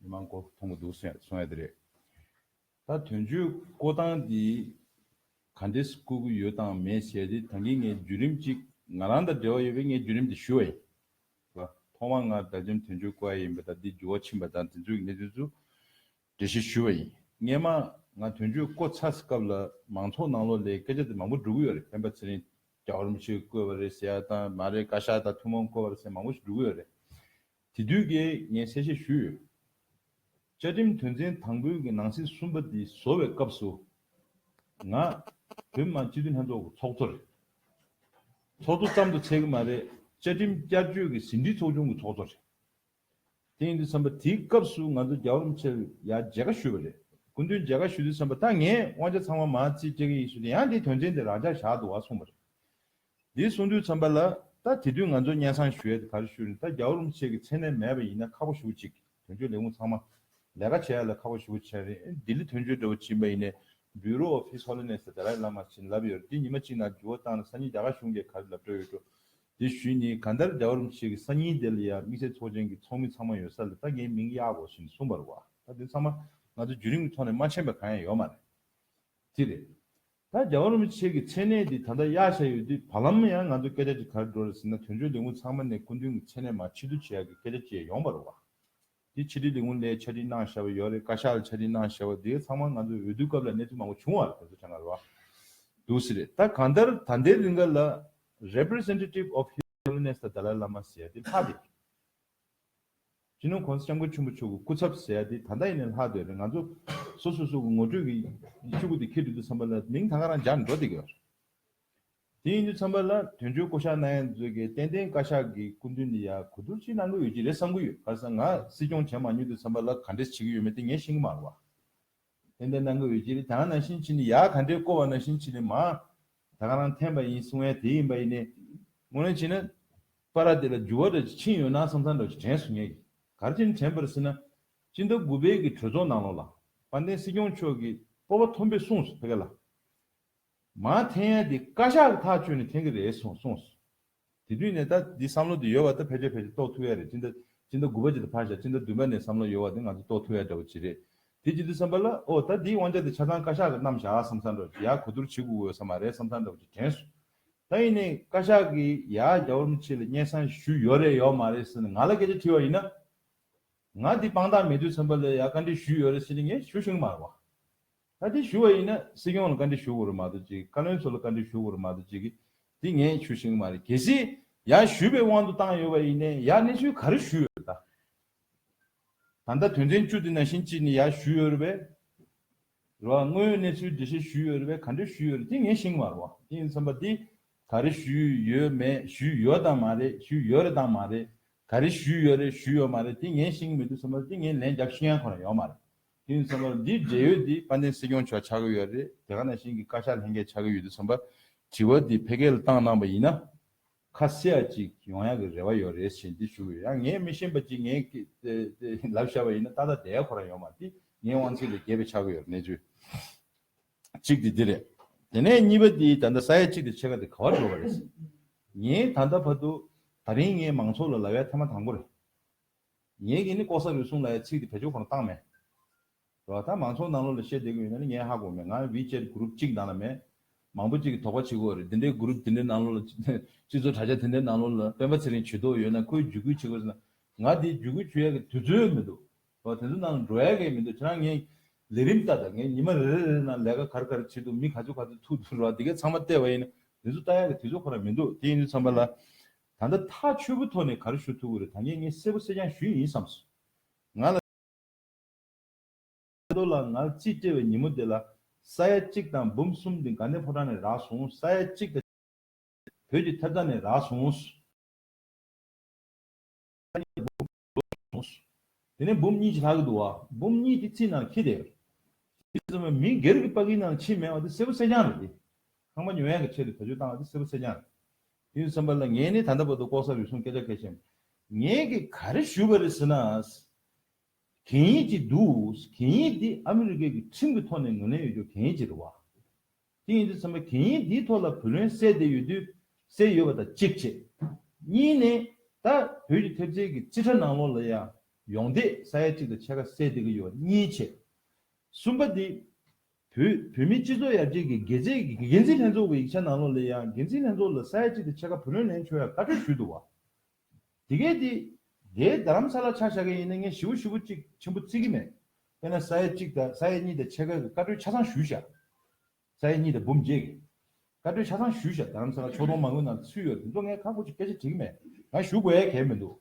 མི་མང་སྐོར་མཐོང་གི་འདུག་གསུངས་ཡ་དེ་རེད། ད་དོན་གཅོད་བསྐོ་སྟངས་འདི་ག་འདྲེས་བསྐོ་གི་ཡོད་དང་མེད་བཤད་དེ་ད་གིན་ངའི་བརྒྱུད་རིམ་གཅིག་ང་རང་དང་འབྲེལ་བ་ཡོད་པས་ངའི་བརྒྱུད་རིམ་དེ་ཞུ་བ་ཡིན། ཐོག་མར་ང་དགྲ་འཇམ་དོན་གཅོད་བསྐོ་ཡ་ཡིན་པ་དང་འདི་འགྱུར་བ་ཕྱིན་པ་དང་དེ་ཚོའི་གནད་དོན་ཚོ་འགྲེལ་བཤད་ཞུ་བ་ཡིན། སྔན་མ་ང་དོན་གཅོད་བསྐོ་ཚར་སྐབས་ལ་མང་ཚོགས་ནང་ལོགས་ལས་སྐད་ཆ་དེ་མང་པོ་འགྲོ་གི་ཡོད་རེད་སྤེན་པ་ཚེ་རིང་རྒྱ་གོར་མོ་ཆེ་བསྐོས་པ་རེད་ཟེར་ཡ་དང་མ་རེད་བཀའ་ཤག་དང་ཐུན་མོང་བསྐོ་བ་རེད་ཟེར་མང་པོ་ཞིག་འགྲོ་གི་ཡོད་རེད། དེ་དུས་ཀྱི་ངས་གསལ་བཤད་ཞུས་ཡོད། བཅའ་ཁྲིམས་དོན་ཚན་དང་པོའི་གི་ནང་ཚིག་གསུམ་པ་འདི་བཟོ་བའི་སྐབས་སུ། ང། བོད་མི་མང་སྤྱི་འཐུས་ལྷན་ཚོགས་ཀྱི་ཚོགས་གཙོ་རེད། ཚོགས་གཙོ་ཙམ་དུ་ཚད་ཀྱི་མ་རེད་བཅའ་ཁྲིམས་བསྐྱར་བཅོས་ཀྱི་ཟིན་བྲིས་ཚོགས་ཆུང་གི་ཚོགས་གཙོ་རེད། དེ་ཡིན་དུས་བསམ་པ་དེའི་སྐབས་སུ་ང་ཚོ་རྒྱ་རོམ་ཆེར་ཡ་མཇལ་ཁ་ཞུས་པ་རེད། སྐུ་མདུན་མཇལ་ཁ་ཞུས་དུས་བསམ་པ་ད་ངས་དབང་ཆ་ཚང་མ་མ་རྩིས་སྤྲད་ཀྱི་ཡིན་ཞུས་དུས་ཡང་དེའི་དོན་ཚན་དེ་རང་འཇགས་བཞག་འདུག་བ་གསུངས་པ་རེད། འདིའི་གསུང་དུས་ཚོམས་པ་ལ། ད་དེ་དུས་ང་ཚོ་གཉན་སྲང་ཞུ་ཡ་དེ་གར་ཞུ་རིན་ད་རྒྱ་བོ་རུམ་ཆེ་གི་མཚན་གནས་མེད་པ་ཡིན་ན་ཁག་པོ་ཞུ་ཅིག་དོན་གཅོད་ལས་ཁུངས་ཚང་མ། ལས་ཀ་བྱེད་ཡ་ལ་ཁག་པོ་ཞུ་ཆེན་རིན་ལྡི་ལི་དོན་གཅོད་དྲ་བོ་ཆིན་པ་ཡིན་ནས Bureau of His Holiness the Dalai Lama བྱིན་རླབས་ཡོད་རེད་འདི་ཉི་མ་གཅིག་ནང་འགྱུར་བ་བཏང་ན་ས་ཉིན་རྒྱ་གར་གཞུང་གས་ག་རེ་ལབ་འདྲ་ཡོད་འགྲོ། དེ་ཞུས་ནི་ག་འདར་རྒྱ་བོ་རུམ་ཆེ་གི་ས་ཉིན་དེ་ལ་ཡང་དམིགས་བསལ་ཚོགས་ཆེན་གི་ཚོགས་མི་ཚང་མ་ཡོད་ས་ལ་ད་ངའི་མིང་གཡག་གོ་ཞིན་གསུངས་པར་བ་ད་དེ་ཚང་མ་ང་ཚོ་བརྒྱུད་རིམ་གི་ཐོག་ནས་མ་མཆན་པ་གང་ཡང་ཡོད་མ་རེད་དེ་རེད། ད་རྒྱ་གར་རིན་པོ་ཆེ་གི་མཚན་གནས་འདི་ད་ལྟ་གཡག་བཞག་ཡོད་དུས་བར་ལམ་ཡང་ང་ཚོ་སྐད་ཆ་འདྲི་གར་འགྲོ་རེ་ཟེར་ན་དོན་གཅོད་ལས་ཁུངས་ཚང་མ་ནས་སྐུ་མདུན་གྱི་མཚན་གནས་མ་ཕྱི་བསྡུ་བྱེད་ཡག་གི་སྐད་ཆ་བཅས་ཡོང་བ་རུ་བ། འདི་ཕྱི་དྲིལ་ལས་ཁུངས་ལས་ཆ་འཕྲིན་གནང་བཞག་པ་ཡོད་རེད་བཀའ་ཤག་ལ་ཆ་འཕྲིན་གནང་བཞག་པ་དེ་ག་ཚང་མ་ང་ཚོ་འོས་བསྡུ་སྐབས་ལ་གནས་ཚུལ་མང་པོ་བྱུང་བ་རེད་དེ་ཚོ་ཆ་འགའ་རུ་བ་འདུག་སེ་རེད་ད་གང་ལྟར་ད་འདའི་རིང་ག་ལ Representative of His Holiness ད་དཱ་ལའི་བླ་མ་ཟེར་ཡ་དེ་ལྷག་དེ་ཅི་ནུས་གོང་ས་སྐྱབས་མགོན་ཆེན་པོ་མཆོག་གི་སྐུ་ཚབ་ཟེར་ཡ་དེ་ད་ལྟ་ཡིན་ནའི་ལྷག་འདོད་རེད་ང་ཚོ་སོ་སོ་སོ་གི་ངོ་སྤྲོད་ཀྱི་ཆུ་བུ་དེ་འཁྱེར་འདོད་དུ་འཚམས་པ་ལ་མིང་ད་ག་རང་སྦྱར་འགྲོ་དེ་ག་རེད། དེ་ཡིན་དུ་འཚམས་པ་ལ་དོན་གཅོད་བསྐོ་གཞག་གནང་ཡ་མཛོད་དགེ་བསྟན་བསྟན་བཀའ་ཤག་གི་སྐུ་མདུན་འདི་ཡ་གོ་བསྡུར་ཅིག་གནང་གི་ཡོད་ཀྱི་རེད་བསམ་གི་ཡོད་ག་ས་ང་སྲིད་སྐྱོང་བྱས་མ་མྱོང་དུ་འཚམས་པ་ལ་ག་འདྲེས་བྱེད་ཀྱི་ཡོད་མེད་དེ་ངས་ཤེས་ཀྱི་མ་རུང་བ། དེ་འདྲ་གནང་གི་འོས་ཅི་རེད་དེང་ནང་བཞིན་ཕྱི་ནས་ཡག་ག་འདྲས་བསྐོ་བ་ནང་བཞིན་ཕྱི་ནས་མ་ད་ག་རང་འཐེན་པ་ཡིན་གསུང་བས་དེ་ཡིན་པ་ཡིན་ནས། ངོ་ལེན་བྱེད་ན། པ་ར་དེ་ལ་འགྱུར་བ་འདྲ་ཅིག་ཕྱིན་ཡོད་ན་བསམ་ཚང་འདྲ་བ་ཞིག་དྲན་སོང་ངེས། གར་ཕྱིན་དྲན་པར་སྲིད་ན། སྤྱི་ཟླ་དགུ་དཔལ་གྱི་གྲོས་ཚོགས་ནང་ལོག་ལ། དཔལ་ལྡན་སྲིད་སྐྱོང་མཆོག་གིས་སྤོབས་པ་མཐོན་པོས་གསུངས་སོ་ཕེ་ག་ལ། མ་འཐེན་ཡ་དེ་བཀའ་ཤག་གི་ཐག་ཆོད་ནས་འཐེན་གི་རེད་སོང་གསུངས་སོ། དེ་དུས་ནས་ད་འདི་བསམ་བློ་དེ་ཡོལ་བ་ད་ཕལ་ཆེར་ཕལ་ཆེར་རྟོགས་ཐུབ་ཡ་རེད་ཅི་འདྲ། སྤྱི་ཟླ་དགུ་པ་ཅིག་ལ་ཕར་བཞག་སྤྱི་ཟླ་བདུན་པ་ནས་བསམ་བློ་ཡོལ་བ་དེ་ང་ཚོ་རྟོགས་ཐུབ་ཡ་འདྲ་བོ་ཅི་རེད། དེ་ཅི་འདུག་བསམ་པ་ལ་ཨོ་ད་འདིའི་དབང་ཆ་དེ་ཆ་ཚང་བཀའ་ཤག་གི་རྣམས་བཞག་བསམ་ས་འགྲོ་ཡག་གོ་བསྡུར་བྱེད་དགོས་དགོས་ས་མ་རེད་བསམ་ས་འདྲ་བོ་ཅིག་དྲན་སོང། ད་ཡིན་ནས་བཀའ་ཤག་གིས་ཡག་རྒྱ་བོར་མི་བྱེད་ལ་སྙན་གསང་ཞུས་ཡོད་རེད་ཡོད་མ་རེད་ཟེར་ནས་ང་ལ་སྐད་ཆ་དྲིས་བ་ཡིན་ན། ང་འདི་དཔང་རྟགས་མེད་དུས་བསམ་པ་ལ་ཡག་བཀའ་འདྲི་ཞུས་ཡོད་རེད་ཟེར་ནས་ངས་ཞུ་ཞིང་མ་རེད་བ། བཀའ་འདྲི་ཞུ་བ་ཡིན་ན་སྲིད་སྐྱོང་ལ་བཀའ་འདྲི་ཞུ་དགོས་རེད་མ་གཏོགས་ཅིག་བཀའ་བློན་ཚོ་ལ་བཀའ་འདྲི་ཞུ་དགོས་རེད་མ་གཏོགས་ཅིག་གི། དེ་ངས་ཞུ་བཞིན་གྱི་མ་རེད་གལ་སྲིད། ཡང་ཞུས་པའི་དབང་དུ་བཏང་ཡོད་པ་ཡིན་ནས་ཡང་གནས་ཚུལ་ག་རེ་ཞུས་ཡོད་རེད་ད། ད་ལྟ་དོན་ཚན་བཅུ་དེ་ནང་བཞིན་གཅིག་ནི་ཡང་ཞུས་ཡོད་རེད་པས། རེད་བ། དངོས་ཡོད་གནས་ཚུལ་འབྲི་བཤད་ཞུས་ཡོད་རེད་པས་ག་འདྲས་ཞུས་ཡོད་རེད་དེ་ངས་བཞིན་གྱི་མ་རེད་བ། དེ་ཡིན་ཚང་པ་དེ། ག་རེ་ཞུས་ཡོད་མེད་ཞུས་ཡོད་དང་མ་རེད་ཞུས་ཡོད་རེད་དང་མ་རེད། ག་རེ་ཞུས་ཡོད་རེད་ཞུས་ཡོད་མ་རེད་དེ་ངས་བཞིན་གྱི་མི་འདུག་ཚང་པ་དེ་ངས་ལན་རྒྱབ་བཞིན་ཡང་ཁོ་ན་ཡོད་མ་རེད། དེ་ནས་ཚང་མར་འདིའི་འབྲེལ་ཡོད་དེ་པ་ནས་སྲིད་སྐྱོང་མཆོག་ཆགས་ཀྱི་ཡོད་རེད་དེ་ག་ནང་བཞིན་གྱི་བཀའ་ཤག་ལྷན་རྒྱས་ཆགས་ཀྱི་ཡོད་དུས་ཚང་པ་དྲི་བ་དེ་ཕེ་གེལ་བཏང་གནང་པ་ཡིན་ན་ཁ་གསལ་བ་ཅིག་ཡོང་ཡག་གི་རེ་བ་ཡོད་རེད་བཞིན་དེ་ཞུ་གི་ཡོད་ཡང་ངས་མི་ཤེས་པ་ཅིག་ངས་ལབ་བཞག་པ་ཡིན་ན་ཏག་ཏག་དེ་ག་གོ་རང་ཡོང་མ་དེ་ངའི་དབང་ཚིག་ལས་བརྒལ་བའི་ཆགས་ཀྱི་ཡོད་རེད་གནས་ཚུལ་གཅིག་དེ་དེ་རེད་དེ་ནས་གཉིས་པ་དེ་ད་ལྟ་ས་ཡ་གཅིག་དེ་ཕྱེད་ཀ་དེ་ག་བ་འགྲོ་བ་རེད་ངས་ད་ལྟ་བར་དུ་ད་རིང་ངས་མང་ཚོགས་ལ་ལ་བའི་ཐ་མ་དང་པོ་རེད། ངའི་གིས་ནི་ལྐོག་ཟ་རུལ་སུངས་ལ་ཡ་ཚིག་གི་བེད་སྤྱོད་གོང་བཏང་མེད། རོ། ད་མང་ཚོགས་ནང་ལོག་ལ་བཤད་བསྡད་དགོས་ཡོད་ན་ནི་ངའི་ཧ་གོ་མེད་ང་བྷི་ཅེད་གུ་རུབ་གཅིག་ནང་ལ་མེད། མང་པོ་གཅིག་གི་དོགས་པ་བྱེད་དགོས་རེད་དེ་འདྲའི་གུ་རུབ་དེ་འདྲའི་ནང་ལོག་ལ་སྤྱི་ཚོགས་དྲ་རྒྱ་དེ་འདྲའི་ནང་ལོག་ལ་སྤེན་པ་ཚེ་རིང་བྱུས་དོགས་ཡོད་ན་ཁོའི་བརྒྱུད་སྐུལ་བྱེད་དགོས་ཟེར་ན་ང་དེའི་བརྒྱུད་སྐུལ་བྱུས་ཡག་གི་དུས་ཚོད་མི་འདུག་རོ། དེ་ཚོ་ནང་ལ་འགྲོ་ཡག་གི་མི་འདུག་ཁྱེད་རང་ངའི་ལས་རིམ་ལྟ་ད་ངས་ཉི་མ་རེ་རེ་རེ་ནང་ལས་ཀ་ག་རེ་ག་རེ་བྱེད་འདུག་མི་ག་ཚོད་ག་ཚོད་ཐུག་འདུག་རོ་དེ་གས་ཚང་མ་བལྟས་བ་ཡིན་ན་དེ་ཚོ་ལྟ་ཡག་གི་དུས་ཚོད་ཁོ་ན་མི་འདུག་དེ་ཡིན་དུས་ཚང་མ་ལ་ད་ལྟ་ཐག་ཆོད་པོ་ཐོག་ནས་གར་ཞུ་ཐུབ་ཀྱི་རེད་ད་ངས་ངའི་གསལ་པོ་གསལ་རྐྱང་ཞུས་ཡིན་བསམ་སོང། ང་ལ། ལོ་ལ་ང་རྩིས་སྤྲད་པའི་ཉིན་མོ་དེ་ལ། ས་ཡ་གཅིག་དང་འབུམ་གསུམ་དེ་ག་ནས་ཕོ་བྲང་ནས་རག་སོང་ས་ཡ་གཅིག་དང། བོད་ཀྱི་ཐབ་ཚང་ནས་རག་སོང། གསུངས་སོ། དེ་ནས་འབུམ་གཉིས་ཀྱི་ལྷ་གི་འདུ་བ། འབུམ་གཉིས་ཀྱི་ཚིག་རྣམས་ཁྱི་དེ། ཞེས་གསུངས་པའི་མིང་སྒེར་གྱི་པཀྵིའི་ནང་ཕྱིའི་མེ་བ་དེ་སེར་པོ་གསེར་སྦྱངས་རེད་དེ། ཁང་པ་ཉོ་ཡ་གི་ཆེད་དུ་བྱ་སྤྱོད་བཏང་བ་དེ་སེར་པོ་གསེར་སྦྱངས་རེད། དེ་ཡིན་བསམ་པ་ལ་ངས་ནི་ད་ལྟ་བར་དུ་ལྐོག་ཟ་རུལ་སུངས་སྐད་ཆ་གལ་ཆེན། ངས་ཀྱིས་ག་རེ་ཞུས་པ་རེད་ཟེར་ན། གན་ཡིག་ཅིག་འདུག་གན་ཡིག་འདི་ཨ་མི་རི་ཀའི་གི་ཁྲིམས་ཀྱི་ཐོག་ནས་ངོས་ལེན་ཡོད་རྒྱུ་གན་ཡིག་ཅིག་རེད་བ། དེ་ཡིན་དུས་ཚན་པ་གན་ཡིག་འདིའི་ཐོག་ལ་བུ་ལོན་བསྲེས་བསྡད་ཡོད་དུས་བསྲེས་ཡོད་པ་དང་གཅིག་བྱེད། གཉིས་ནི། ད་བོད་ཀྱི་ཐེབས་རྩའི་གི་རྩིས་ཁྲ་ནང་ལོགས་ལ་ཡང་ཡོང་བསྡད་ས་ཡ་གཅིག་དང་ཕྱེད་ཀ་བསྲེས་བསྡད་ཀྱི་ཡོད་པ་གཉིས་བྱེད། གསུམ་པ་དེ། བོད་བོད་མིའི་སྤྱི་ཚོགས་ཡར་རྒྱས་ཀྱི་འགད་རྫས་ཀྱི་གི་འགན་འཛིན་ལྷན་ཚོགས་ཀྱི་ཡིག་ཆ་ནང་ལོགས་ལ་ཡང་འགན་འཛིན་ལྷན་ཚོགས་ལ་ས་ཡ་གཅིག་དང་ཕྱེད་ཀ་བུ་ལོན་ལེན་ཆོག་ཡ་བཀའ་འཁྲོལ་ཞུས་འདུག་བ། དེ་གས་དེ། དེའི་རྡ་རམ་ས་ལ་ཆ་བཞག་མཁན་ཡིན་ན་ངས་ཞི་བོ་ཞི་བོ་ཅིག་ཆེན་པོ་བརྩི་གི་མེད། དཔེར་ན་ས་ཡ་གཅིག་དང་ས་ཡ་གཉིས་དང་ཆེད་མཁས་ཀྱི་བཀའ་གྲོས་ཆ་ཚང་ཞུས་བཞག། ས་ཡ་གཉིས་དང་འབུམ་བརྒྱད་ཀྱི། བཀའ་གྲོས་ཆ་ཚང་ཞུས་བཞག་རྡ་རམ་ས་ལ་ཕྱོགས་མཐོང་མང་བོའི་ནང་དུ་ཚུད་ཡོད་དེ་ཚོ་ངས་ཁག་པོ་ཅིག་སྐད་ཆ་དྲིས་གི་མེད། ཡང་ཞུ་དགོས་ཡས་གས་མི་འདུག་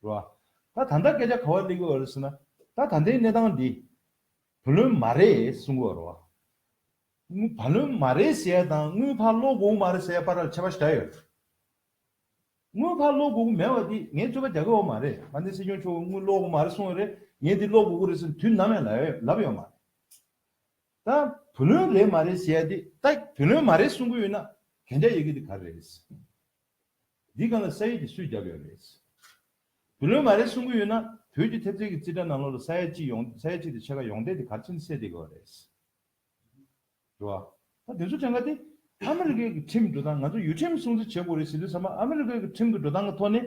རེད་བ། ད་ད་ལྟ་སྐད་ཆ་ག་བ་གླེང་གི་ཡོད་རེད་ཟེར་ན། ད་ད་ལྟའི་གནས་སྟངས་འདི། བུ་ལོན་མ་རེད་གསུང་གི་ཡོད་རེད་བ། དངུལ་བ་ལོན་མ་རེད་ཟེར་ཡ་དང་དངུལ་བ་ལོ་དགོང་མ་རེད་ཟེར་ཡ་བར་ལ་ཁྱད་པར་ག་ཡོད། དངུལ་ཁ་གློག་སྒུག་གུ་མེད་པ་དེ་ངས་རྩོད་པ་རྒྱག་གི་འོ་མ་རེད་ང་འདི་སྲིད་སྐྱོང་མཆོག་གི་དངུལ་གློག་སྒུག་མ་རེད་གསུང་གི་རེད་ངས་འདི་གློག་སྒུག་གུ་རེད་ཟེར་དུས་ནམ་ཡང་ལབ་ཡོད་མ་རེད། ད་བུ་ལོན་རེད་མ་རེད་ཞེས་དེ་ད་བུ་ལོན་མ་རེད་གསུང་གི་ཡོད་ན་གན་རྒྱ་ཡོད་གི་དེ་ག་རེད། འདི་གང་ལ་ས་ཡོད་དེ་སུས་རྒྱབ་ཡོད་རེད། བུ་ལོན་མ་རེད་གསུང་གི་ཡོད་ན་བོད་ཀྱི་ཐེབས་རྩལ་གྱི་རྩིས་ཁྲ་ནང་ལོག་ལ་ས་ཡ་གཅིག་ཡོང་ས་ཡ་གཅིག་དེ་ཕྱེད་ཀ་ཡོང་སྡད་དེ་གར་ཕྱིན་སད་དེ་ག་རེད། འགྲོ་བ། ད་དེ་ཚོ་ཐེངས་འགའ་དེ། ཨ་མི་རི་ཀའི་གི་ཁྲིམས་འགྲོ་སྟངས་ང་ཚོ་ཡུལ་ཁྲིམས་སྲུང་བརྩི་བྱེད་དགོས་རེད་ཟེར་དུས་ཚང་མ་ཨ་མི་རི་ཀའི་གི་ཁྲིམས་གི་འགྲོ་སྟངས་གི་ཐོག་ནས།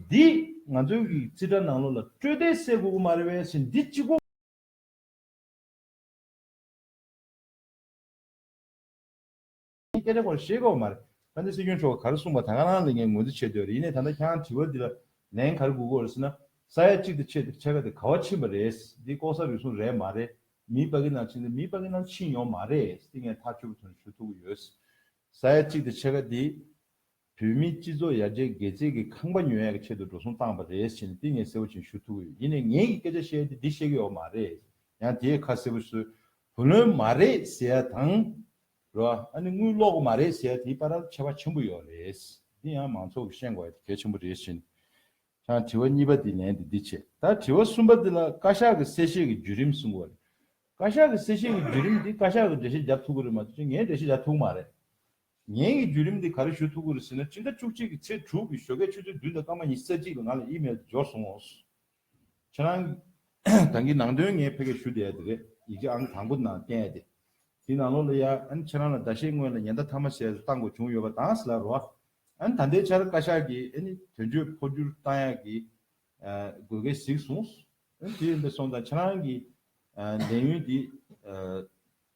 འདི། ང་ཚོའི་གི་རྩིས་ཁྲ་ནང་ལོགས་ལ་སྤྲོད་བདེ་བསད་དགོས་གི་མ་རེད་བས་ཟེར་འདི་གཅིག་གོ། འདི་སྐད་ཆ་ཁོ་ར་ཤེས་དགོས་བ་མ་རེད། ད་འདི་སྲིད་སྐྱོང་མཆོག་ག་རེ་གསུངས་པ་ད་ག་རང་ལ་ངས་ངོས་འཛིན་བྱེད་འདོད་རེད་ཡིན་ནས་ད་ལྟ་ཁྱེད་རང་དྲི་བ་འདི་ལ་ལན་ག་རེ་དགོས་དགོས་རེད་ཟེར་ན། ས་ཡ་གཅིག་དེ་ཆེད་དེར་ཆེ་ཁ་དེ་ག་བ་ཕྱིན་པ་རེད། འདི་ལྐོག་ཟ་རུལ་སུངས་རེད་མ་རེད། མིའི་པ་ཀི་ནང་ཕྱིན་ཏེ་མིའི་པ་ཀི་ནང་ཕྱིན་ཡོང་མ་རེད་སི་ངས་ཐག་ཆོད་པོ་དོན་ཞུ་ཐུབ་གི་ཡོད། ས་ཡ་གཅིག་དེ་ཕྱེད་ཀ་དེ། བོད་མིའི་སྤྱི་ཚོགས་ཡར་རྒྱས་འགད་རྩིས་ཀི་ཁང་པ་ཉོ་ཡ་གི་ཆེད་དུ་འགྲོ་སོང་བཏང་པ་རེད་སི་ནས་ཏི་ངས་གསལ་བོ་བྱིན་ཞུ་ཐུབ་གི་ཡོད་ཡིན་ནས་ངས་ཀི་སྐད་ཆ་བཤད་ཡ་དེ་འདི་བཤད་གི་ཡོད་མ་རེད་ཡང་དེ་ཡི་ཁ་གསལ་བོ་བསོད་བུ་ལོན་མ་རེད་སི་ཡ་དང། རོ་ཨ་ནི་དངུལ་ལོག་གི་མ་རེད་སི་ཡ་དེའི་པ་ར་ལ་ཁྱད་པ་ཆེན་པོ་ཡོད་རེད་སི་ཏི་ཡང་མང་ཚོགས་ཀི་ཤེས་དགོ་ཡ་དེ་གལ་ཆེན་པོ་རེད་སི་ནས་ཀྱང་དྲི་བ་གཉིས་པ་དེའི་ལན་དུ་འདི་བྱེད། ད་དྲི་བ་གསུམ་པ་འདི་ལ་བཀའ་ཤག་གི་གསལ་བཤད་ཀྱི་བརྒྱུད་རིམ་གསུང་བ་རེད། བཀའ་ཤག་གི་གསལ་བཤད་ཀྱི་བརྒྱུད་རིམ་འདི་བཀའ་ཤག་གི་འགྲེལ་བཤད་རྒྱབ་ཐུག་གི་རེད་མ་གཏོགས་ངས་འགྲེལ་བཤད་བྱ་ཐུག་མ་རེད། ངས་ཀྱི་བརྒྱུད་རིམ་འདི་ག་རེ་ཞུ་ཐུག་གི་རེད་ཟེར་ན་སྤྱི་ཟླ་བཅུ་གཅིག་གི་ཚེས་དྲུག་གི་ཞོགས་ཀའི་ཆུ་ཚོད་བདུན་དང་སྐར་མ་ཉི་ས་གཅིག་ལ་ང་ལ་ཨི་མེལ་དུ་འབྱོར་སོང་ངོ། ཁྱེད་རང་གང་གི་ནང་དོན་ངས་ཕལ་སྐད་ཞུ་བསྡད་ཡ་དེ་རེད་ཡིག་ཆ་ཨང་དང་པོ་ནང་བསྟན་ཡ་དེ། དེའི་ནང་ལོགས་ལ་ཡ་ཨན་ཁྱེད་རང་ལ་ཟླ་ཤས་སྔོན་ལ་ཉེན་བརྡ་མཐའ་མ་བྱས་སུ་བཏང་དགོས་བྱུང་ཡོད་པ་དང་སླ་རོ། ཨན། ད་ལྟའི་ཆར་བཀའ་ཤག་གིས་ཨན་དོན་གཅོད་འཕོ་འགྱུར་བཏང་ཡག་གི་དགོས་གལ་གཟིགས་གསུངས། ཨན་དེ་ཡིན་པས་སོང་ཙང་ཁྱེད་རང་གི་ལས་ཡུན་འདི་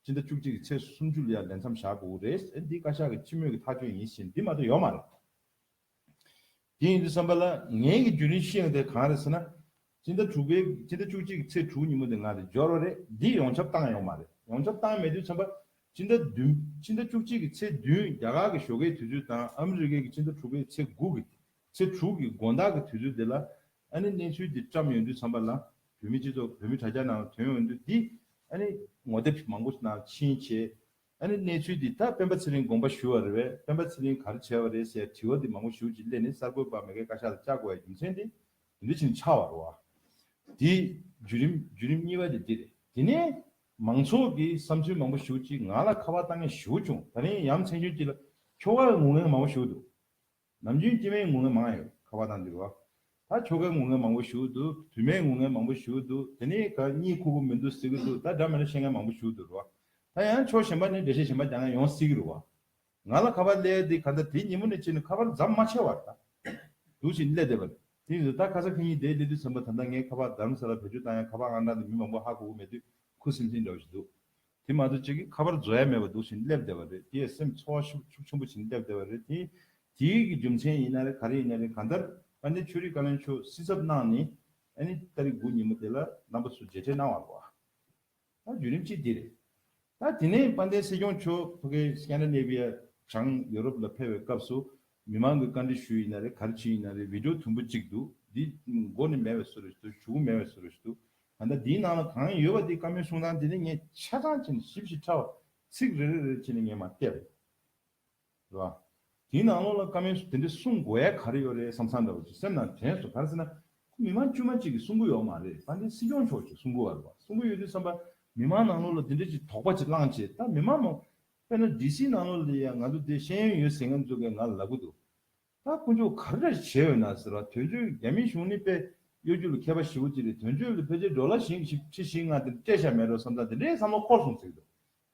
སྤྱི་ཟླ་བཅུ་གཅིག་གི་ཚེས་སུམ་ཅུ་ལ་ཡང་ལས་མཚམས་བཞག་དགོས་ཀྱི་རེད། ཨན་འདི་བཀའ་ཤག་གི་སྤྱི་མོས་ཀྱི་ཐག་གཅོད་ཡིན་ཕྱིན་འདི་མ་གཏོགས་ཡོད་མ་རེད། དེ་ཡིན་དུས་བསམ་པ་ལ་ངེད་ཀྱི་རྒྱུན་རིང་ཤེས་ཡོང་དེ་གང་རེད་ཟེར་ན། སྤྱི་ཟླ་དྲུག་པའི་སྤྱི་ཟླ་བཅུ་གཅིག་ཚེས་དྲུག་ཉིན་མོ་དེ་ང་རེད་འབྱོར་བ་རེད་འདི་ཡོངས་ཁྱབ་བཏང་ཡོག་མ་རེད་ཡོངས་ཁྱབ་བཏང་མེད་དུས་མཚོན་པ། སྤྱི་ཟླ་བདུན། སྤྱི་ཟླ་བཅུ་གཅིག་གི་ཚེས་བདུན་རྒྱ་གར་གྱི་ཞོ་ཀའི་དུས་ཚོད་དང་ཨ་མི་རི་ཀའི་གི་སྤྱི་ཟླ་དྲུག་པའི་ཚེས་དགུ་གི། ཚེས་དྲུག་གི་དགོན་བདག་གི་དུས་ཚོད་དེ་ལ། ཨ་ནི་གནས་ཚུལ་འདི་བཀྲམས་ཡོང་དུས་མཚོན་པ་ལ། བོད་མི་སྤྱི་ཚོགས་བོད་མི་དྲ་རྒྱ་ནང་དོན་ཡོང་དུས་འདི། ཨ་ནི། ངོ་དེབ་མང་པོ་ནང་ཕྱིན་བྱས། ཨ་ནི་གནས་ཚུལ་འདི་ད་སྤེན་པ་ཚེ་རིང་དགོངས་པ་ཞུ་བ་རེད་བས་སྤེན་པ་ཚེ་རིང་ག་རེ་བྱས་པ་རེད་ཟེར་དྲི་བ་འདི་མང་པོ་ཞུ་ཅིག་སླད་ནི་གསར་འགོད་པ་མེ་ཁའི་བཀའ་ཤག་ལ་བཅར་དགོས་ཡ་རྒྱུ་མཚན་འདི། འདི་བཞིན་འཆར་བར་བ། དེའི་བརྒྱུད་རིམ་བརྒྱུད་རིམ་གཉིས་པ་དེ་འདི་རེད། དེ་ནས་མང་ཚོགས་ཀྱི་བསམ་ཚུལ་མང་པོ་ཞུ་གཅིག་ང་ལ་ཁ་བ་བཏང་ངེས་ཞུ་བྱུང་ད་རིང་ཡ་མཚན་རྒྱུན་གཅིག་ལ་ཁྱོ་གའི་ངུ་ངན་མང་པོ་ཞུ་འདུག་ནམ་རྒྱུན་སྐྱེ་མའི་ངུ་ངན་མང་ཡོད་ཁ་བ་བཏང་འདུག་བ། ད་ཁྱོ་གའི་ངུ་ངན་མང་པོ་ཞུ་འདུག་དུས་མའི་ངུ་ངན་མང་པོ་ཞུ་འདུག་དེ་ནས་ག་གཉིས་ཁུག་པོ་མི་འདུག་ཟེར་གྱི་འདུག་ད་དགྲ་མེད་ན་ཤེས་ངན་མང་པོ་ཞུ་འདུག་རུ་བ། ད་ཡང་ཆོག་ཞེན་པ་ནི་འདྲེ་ཤེས་ཞེན་པ་རྒྱག་ངན་ཡོང་སྲིད་གི་རུ་བ། ང་ལ་ཁ་པར་གླས་ཏེ་ཁ་མདའ་དེ་ཉིན་མོ་ནས་ཕྱིན་ནས་ཁ་པར་འཛམ་མ་ཆེ་བར་ད་དུ་བཞིན་གླས་བསྡད་པ་རེད། དེ་ཡིན་དུས་ད་ཁ་ས་ཁེ་ཉིན་དེའི་གླས་དུས་སེམས་པ་ད་ལྟ་ངས་ཁ་པར་དར་མ་ས་ལ་བེད་སྤྱོད་བཏང་ཡང་ཁ་པར་ཨང་གྲངས་དེ་མི་མང་པོ་ཧ་གོ་གོ་མེད་དུས་ཁུ་སིམ་སིམ་འདྲ་བ་ཞིག་འདུག་དེ་མ་གཏོགས་གཅིག་གིས་ཁ་པར་བཟོ་ཡ་མེད་པར་འདུག་བཞིན་གླས་བསྡད་པ་རེད་དེས་སེམས་འཚོ་བ་ཤུགས་ཆུང་པོ་བཞིན་གླས་བསྡད་པ་རེད། དེ་དེའི་རྒྱུ་མཚན་ཡིན་ན་རེད་ག་རེ་ཡིན་ན་རེད་གང་ལྟར་ཨ་ནེ་ཆོས་རིག་བཀའ་བློན་མཆོག་སྲིད་ཚབ་གནང་ནས་ཨ་ནེ་ཏཱ་རིག་དགུ་ཉིན་མོ་དེ་ལ་རྣམ་པ་སུ་མཇལ་འཕྲད་གནང་བ་རེད། ད་བརྒྱུད་རིམ་གཅིག་འདི་རེད། ད་དེ་ནས་དཔལ་ལྡན་སྲིད་སྐྱོང་མཆོག་ཕ་གི Scandinavia བྱང་ཡོ་རོབ་ལ་ཕེབས་པའི་སྐབས་སུ་མི་མང་གི་བཀའ་འདྲི་ཞུ་ཡི་ན་རེ་ག་རེ་བྱེད་ཡི་ན་རེ Video དུམ་བུ་གཅིག་འདུག་འདི་མགོ་ནས་མེད་བས་བཟོ་རེས་འདུག་བྱུག་མེད་བས་བཟོ་རེས་འདུག་ད་ལྟ་འདིའི་ནང་ལ་གང་ཡོད་པ་དེ་བཀའ་མོལ་གསུང་སྟངས་དེ་ནི་ངས་ཆ་ཚང་བྱས་ནས་ཞིབ་ཞིབ་ཕྲ་བ་ཚིག་རེ་རེ་རེ་བྱས་ནས་ངས་མ་བལྟས་པ་ཡིན། རེད་བ། དེའི་ནང་ལོགས་ལ་བཀའ་མོས་སུ་དེ་འདྲས་གསུང་དགོས་ཡ་ག་རེ་ཡོད་རེད་བསམ་བསམ་འདྲ་བ་ཅིག་སེམས་ནང་དྲན་སོང་ག་རེ་ཟེར་ན། ཁོ་མི་མང་དཀྱུས་མ་གཅིག་གིས་གསུང་གི་ཡོད་མ་རེད་ད་འདྲའི་སྲིད་སྐྱོང་མཆོག་ཅིག་གསུང་གི་ཡོད་རེད་བ་གསུང་གི་ཡོད་དུས་བསམ་པ། མི་མང་ནང་ལོགས་ལ་དེ་འདྲས་ཅིག་དོགས་པ་ཅིག་བསླངས་བྱས་ད་མི་མང་མང། དཔེར་ན་ལྡི་སིའི་ནང་ལོགས་ལ་ཡང་ང་ཚོ་དེ་ཤེས་ཡོན་ཡོད་ཟེར་མཁན་ཚོས་ཀྱང་ང་ལ་ལབ་གི་འདུག་ད་དཀོན་མཆོག་ག་རེ་འདྲ་ཞིག་བྱས་ཡོད་ན་ཟེར་བ་དོན་གཅོད་རྒྱ་མིའི་གཞུང་ནི་དཔེ་གཡོ་རྒྱུ་ལ་མཁས་པ་བཞི་བོ་ཅིག་རེད་དོན་གཅོད་ལ་ཕལ་ཆེར་འགྲོ་ལ་ཞེན་གི་ཞིག་ཁྲི་བཞི་ལྔ་དེ་འདྲས་བྱས་མེད་རེད་བསམ་ད་དེ་འདྲས་བསམ་བློ་འཁོར་སོང་ཟེར་གི་འདུག་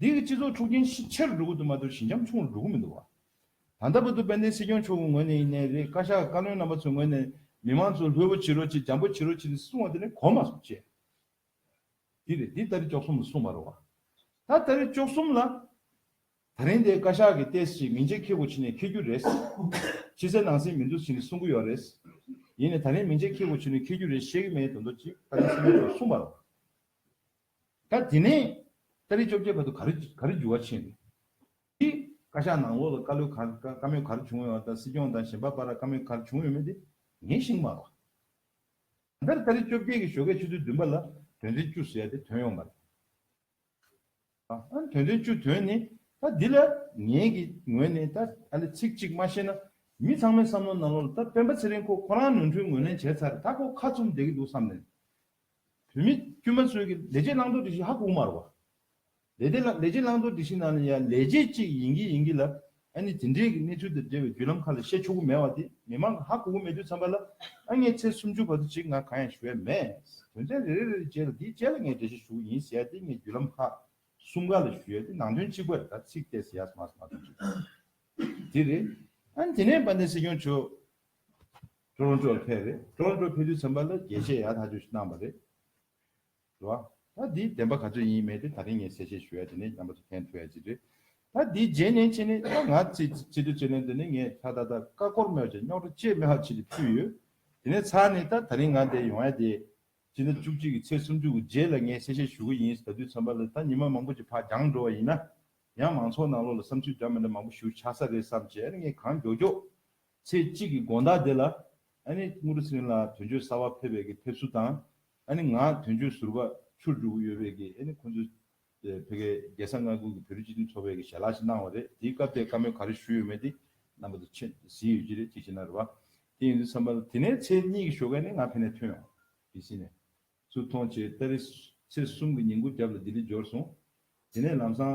འདི་གི་སྤྱི་ཚོགས་འཁྲུག་རྐྱེན་ཤི་ཆེར་འགྲོ་གི་འདུག་མ་གཏོགས་ཞི་འཇམ་ཆུང་རུ་འགྲོ་གི་མི་འདུག་བ། ད་ལྟ་བར་དུ་དཔལ་ལྡན་སྲིད་སྐྱོང་མཆོག་གི་ངོས་ནས་ཡིན་ནས་རེད་བཀའ་ཤག་གི་བཀའ་བློན་རྣམ་པ་ཚོའི་ངོས་ནས་མི་དམངས་ཚོ་ལྷོད་པོ་བྱེད་རོགས་བྱེད་འཇམ་པོ་བྱེད་རོགས་བྱེད་དེ་གསུང་བ་དེ་ནི་གོ་མ་སོང་བཅས་འདི་རེད་འདི་ལྟ་རེ་ཅོག་གསུམ་ལ་གསུང་མ་རུང་བ། ད་ལྟ་རེ་ཅོག་གསུམ་ལ། ད་རིང་འདི་བཀའ་ཤག་གི་ལྟས་ཤིག་མིང་ཆད་འཁེལ་གོ་ཕྱི་ནས་འཁེལ་རྒྱུ་རེད། ཕྱི་གསལ་ནང་གསལ་མི་འདུག་ཟེར་ནས་གསུང་གི་ཡོག་རེད། ཡིན་ནས་ད་རིང་མིང་ཆད་འཁེལ་གོ་ཕྱི་ནས་འཁེལ་རྒྱུ་རེད་བཤད་གི་མེད་དོན་ཏོ་ཅིག་ད་རིང་སྲིད་སྐྱོང་མཆོག་གསུང་མ་རུང། ད་དེ་ནས་ཏཱ་རིའི་བཅོ་བརྒྱད་བར་དུ་ག་རེ་ག་རེ་འགྱུར་བ་ཕྱིན་རེད། དེ། བཀའ་ཤག་ནང་འོག་ལ་བཀའ་བློན་གར་བཀའ་མོལ་གར་བྱུང་ཡོད་བ་དང་སྲིད་སྐྱོང་དང་གཞན་པ་པ་ར་བཀའ་མོལ་གར་བྱུང་ཡོད་མེད་དེ་ངས་ཤིང་མ་རོགས། ད་ལྟར་ཏཱ་རི་བཅོ་བརྒྱད་ཀྱི་ཞོ་ཁའི་ཆུ་ཚོད་བདུན་པ་ལ་དོན་ཚན་བཅུ་ཟེར་ཡ་དེ་དོན་ཡོང་མ་རེད། ཨང། དོན་ཚན་བཅུ་དོན་ནི་ད་འདི་ལ་ངས་ཀྱི་ངོས་ནས་ད་ཨ་ལེ་ཚིག་གཅིག་མ་ཤེས་ན་མི་ཚང་མའི་བསམ་བློ་ནང་ལོག་ལ་ད་སྤེན་པ་ཚེ་རིང་ཁོ་ཁོ་རང་ནོར་འཁྲུལ་ངོས་ལེན་བྱས་ཚར་ད་ཁོ་ཁ་ཚུམ་བསྡད་ཀྱི་འདུག་བསམ་ནས་བུད་མེད་དཀྱུས་མ་ཚོའི་ལས་བྱེད་བླང་དོར་སྒྲིག་གཞི་ཧ་གོ་མ་རུ་བ། ལས་དེ་ལ་ལས་བྱེད་བླང་དོར་སྒྲིག་གཞི་ནང་ནས་ཡང་ལས་བྱེད་ཅིག་ཡིན་གྱི་ཡིན་གྱི་ལ། ཨ་ནི་དེ་འབྲེལ་གྱི་གནས་ཚུལ་དང་འབྲེལ་བའི་བརྒྱུད་ལམ་ཁག་ལས་བཤད་ཆོག་གི་མེད་བ་དེ་མི་མང་གི་ཧ་གོ་གི་མེད་དུས་འཚམས་པ་ལ་ཨ་ངའི་ཚེས་སུམ་ཅུ་བར་དུ་ཅིག་ང་གང་ཡང་ཞུ་ཡ་མེད། དོན་ཚན་རེ་རེ་རེ་རེ་བཅས་ལ་དེའི་རྗེས་ལ་ངས་འགྲེལ་བཤད་ཞུ་གི་ཡིན་ཟེར་ཡ་དེ་ངས་བརྒྱུད་ལམ་ཁག་གསུམ་ག་ལ་ཞུ་ཡ་དེ་ནང་དོན་གཅིག་པ་རེ་དྲ་ཚིག་སྟེ་ཟེར་ཡག་མ་ཟེར་མ་གཏོགས་གཅིག་དེ་རེད། ཨ་ནི་དེ་ནས་དཔལ་ལྡན་སྲིད་སྐྱོང་མཆོག། ཀྲོན་ཀྲོ་ཕེ་རེད། ཀྲོན་ཀྲོ་ཕེ་དུས་ཚོད་མ་ལ་རྒྱལ་གཅེས་ཡག་ཐག་ཆོད་གནང་བ་རེད། དྲི་བ། ད་འདིའི་བདེན་པ་ག་ཚོད་ཡིན་མེད་དེ་ད་རིང་ངས་གསལ་བཤད་ཞུ་ཡ་དེ་ནས་རྒྱང་པ་ཚོ་ཕན་ཐོག་ཡ་ཅིག་རེད། ད་འདིའི་རྗེས་ནས་ཕྱི་ནས་ད་ང་ཚེ་ཚེ་དུས་ཚོད་ལན་དེ་ནས་ངས་ད་ད་ད་ཀ་སྐོར་མོད་ཀྱང་རྙོག་དྲ་བཅས་མི་ཧ་ཆེ་དེ་ཕུད་ཡོད། དེ་ནས་ཚར་ནས་ད་ད་རིང་ང་འདས་ཡོང་ཡ་དེ། སྤྱི་ཟླ་བཅུ་གཅིག་གི་ཚེས་སུམ་ཅུ་དགུ་རྗེས་ལ་ངས་གསལ་བཤད་ཞུ་གི་ཡིན་ད་དུས་ཚོད་མ་ལ་ད་ཉི་མ་མང་པོ་ཅིག་ཕ་རྒྱང་འགྲོ་བ་ཡིན་ན། ཡང་མང་ཚོགས་ནང་ལོག་ལ་བསམ་ཚུལ་འདྲ་མི་འདྲ་མང་པོ་ཞུ་ཆགས་ས་རེད་བསམ་བྱས་ངས་གང་མགྱོགས་མགྱོགས། ཚེ་གཅིག་གི་དགོངས་དག་དེ་ལ། དངུལ་རུ་སྲིན་ལ་དོན་གཅོད་གསར་བ་ཕེབས་པའི་གི་ཕེབས་བསུ་དང། ང་དོན་གཅོད་ཟུར་བ་ཆུར་འཇུག་གི་ཡོད་པའི་གི་ཁོ་ཚོས་བོད་གའི་རྒྱལ་ས་མངའ་ཁུལ་གི་བོད་རིགས་སྤྱི་མཐུན་ཚོགས་པའི་གི་ཞལ་ལག་ཞིག་གནང་བ་རེད་དེའི་སྐབས་དེའི་བཀའ་མོལ་ག་རེ་ཞུས་ཡོད་མེད་དེ་རྣམ་པ་དེ་ཆེད་གཟིགས་ཡོད་ཀྱི་རེད་ཅིག་བྱས་ན་རེ་བ་དེ་ཡིན་དུས་བསམ་པ་དེ་ནས་ཚེ་གཉིས་གི་ཞོ་གས་ནི་ང་ཕེ་ནས་ཐོན་ཡོང་གི་སྲིད་ནས་ཚུར་མཐོང་བྱས་ཏེ་རེ་ཚེ་གསུམ་གི་ཉིན་གུར་རྒྱབ་ལ་ལྡི་ལི་འབྱོར་སོང་དེ་ནས་ལམ་སང་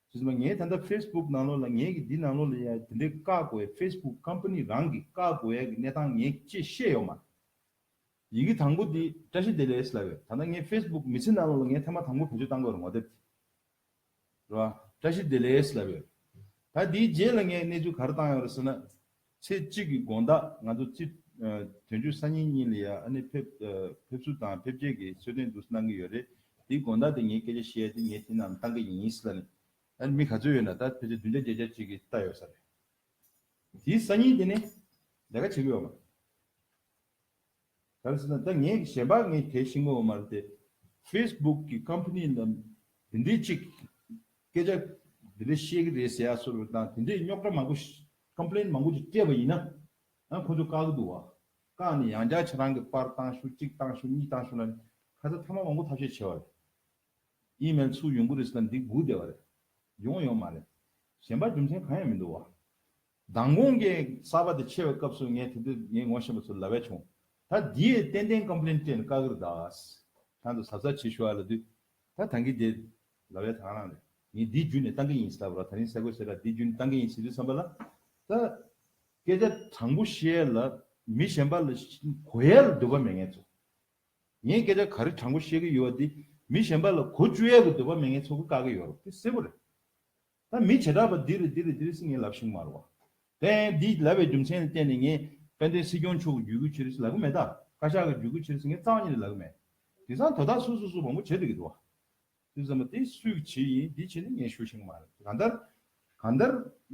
རེད་མ་ངས་ད་ལྟ facebook ནང་ལོག་ལ་ངས་ཀྱི་འདི་ནང་ལོག་ལ་ཡང་དེ་འདྲའི་བཀག་དགོས་ཡ facebook company རང་གི་བཀག་དགོས་ཡ་གི་གནས་སྟངས་ངས་ཅེས་ཤེས་ཡོག་མ་རེད། ཡི་གི་དང་པོ་དེ་བཀྲ་ཤིས་བདེ་ལེགས་ལ་ཡོད་ད་ལྟ་ངས facebook མི་ཚེ་ནང་ལོག་ལ་ངས་ཐ་མ་དང་པོ་བེད་སྤྱོད་བཏང་དགོས་ར་ངོ་དེབ་དེ་རེད་བ་བཀྲ་ཤིས་བདེ་ལེགས་ལ་ཡོད། ད་དེའི་རྗེས་ལ་ངས་གནས་ཚུལ་ག་ར་བཏང་ཡོག་རེད་ཟེར་ན། ཚེས་གཅིག་གི་དགོངས་དག་ང་ཚོ་སྤྱི། དོན་བརྒྱུད་སང་ཉིན་གཉིས་ལ་ཡ་ཨ་ནི་ཕེབས། ཕེབས་བསུ་དང་ཕེབས་རྗེས་ཀྱི་གསོལ་སྟོན་འདུག་གནང་གི་ཡོད་རེད། དེའི་དགོངས་དག་དེ་ངས་སྐད་ཆ་བཤད་ཡ་དེ་ངས་དེ་རྣམས་བཏང་གི་ཡིན་ཡིན་སྲིད་ལ་ནི། ཨ་ནི་མི་ག་ཚོད་ཡོད་ན་ད་ཕལ་ཆེར་བདུན་བརྒྱ་བརྒྱད་བརྒྱ་ཅིག་གིས་བལྟ་ཡོད་ས་རེད། དེའི་སང་ཉིན་དེ་ནི། ལས་ཀ་བྱེད་གི་ཡོད་མ་རེད། གལ་སྲིད་ན་ད་ངས་ཀྱི་ཞེན་པ་ངས་དེ་ཤི་ངོ་བ་མ་རེད་དེ། Facebook གི Company རྣམས་དེ་འདྲའི་ཅིག་སྐད་ཆ་དེ་འདྲའི་བཤད་ཀྱི་རེད་ཟེར་ཡག་སོར་དང་དེ་འདྲའི་རྙོག་དྲ་མང་པོ Complain མང་པོ་ཅིག་སྤྲད་པ་ཡིན་ན་ཡང་ཁོ་ཚོ་བཀག་གི་འདུག་བ། བཀག་ནས་ཡང་བསྐྱར་ཆ་རང་གི་པར་བཏང་ཞུ་གཅིག་བཏང་ཞུ་གཉིས་བཏང་ཞུ་ན་ཁ་ཚ་ཐ་མ་མང་པོ་ཐབས་ཤེས་བྱེད་བ་རེད། Email ཚུགས་ཡོང་གི་རེད་ཟེར་ན་འདི་སྒུག་བསྡད་བ་རེད། ཡོང་ཡོང་མ་རེད། ཞེན་པ་རྒྱུ་མཚན་གང་ཡང་མི་འདུག་བ། མདང་དགོང་གི་གསར་པ་དེ་ཕྱེ་བའི་སྐབས་སུ་ངས་དེ་དུས་ངས་ངོ་ཤེས་པ་ཚོར་ལ་བས་བྱུང། ད་དེའི་ཏན་ཏན Complaint སྤྲད་ནས་བཀག་གིར་གདའ། གང་དུ་གཟབ་གཟབ་བྱེད་ཞུ་ཨ་ལ་དུས། ད་ད་གིན་དེ། ལ་བས་དང་རང་རེད། ངས་འདི་བརྒྱུད་ནས་བཏང་གི་ཡིན་སྲིད་ད་བར་ད་རིང་གསལ་བཀོད་བྱས་ལ་འདི་བརྒྱུད་ནས་བཏང་གི་ཡིན་སྲིད་དུས་བསམ་པ་ལ། ད། སྐད་ཆ་དྲང་པོ་བཤད་ལ། མི་གཞན་པ་ལ་གོ་ཡལ་ལ་འདོད་པ་མེད་ངེས་ཚོ། ངས་སྐད་ཆ་ག་རེ་དྲང་པོ་བཤད་གི་ཡོད་བ་དེ་མི་གཞན་པ་ལ་གོ་བཅུ་ཡལ་གི་འདོད་པ་མེད་ངེས་ཚོ་གི་བཀག་གི་ཡོད་རོགས་དེ་གསལ་བོ་རེད། ད་མི་བྱེ་བྲག་པ་འདི་རུ་འདི་རུ་འདི་རུ་སི་ངེ་ལབ་ཤིང་མར་བ། དེ་ཡང་འདི་ལབ་པའི་རྒྱུ་མཚན་ལ་བརྟེན་ནས་ངས་དཔལ་ལྡན་སྲིད་སྐྱོང་མཆོག་གི་རྒྱུད་སྐུལ་ཕྱི་རུ་སི་ལབ་གི་མེད་ད། བཀའ་ཤག་གི་རྒྱུད་སྐུལ་ཕྱི་རུ་སི་ངས་རྩ་བ་ཉིད་ལ་ལབ་གི་མེད། དེང་སང་དོ་བདག་སུ་སུ་སུ་མང་པོ་བྱེད་འདོད་ཀྱི་འདུག་བ། དེ་ཟེར་མ་དེ་སུས་ཀྱི་བྱེད་ཡིན་འདི་བྱེད་ནི་ངས་ཞུ་ཤིང་མ་རེད། གང་ལྟར། གང་ལྟར།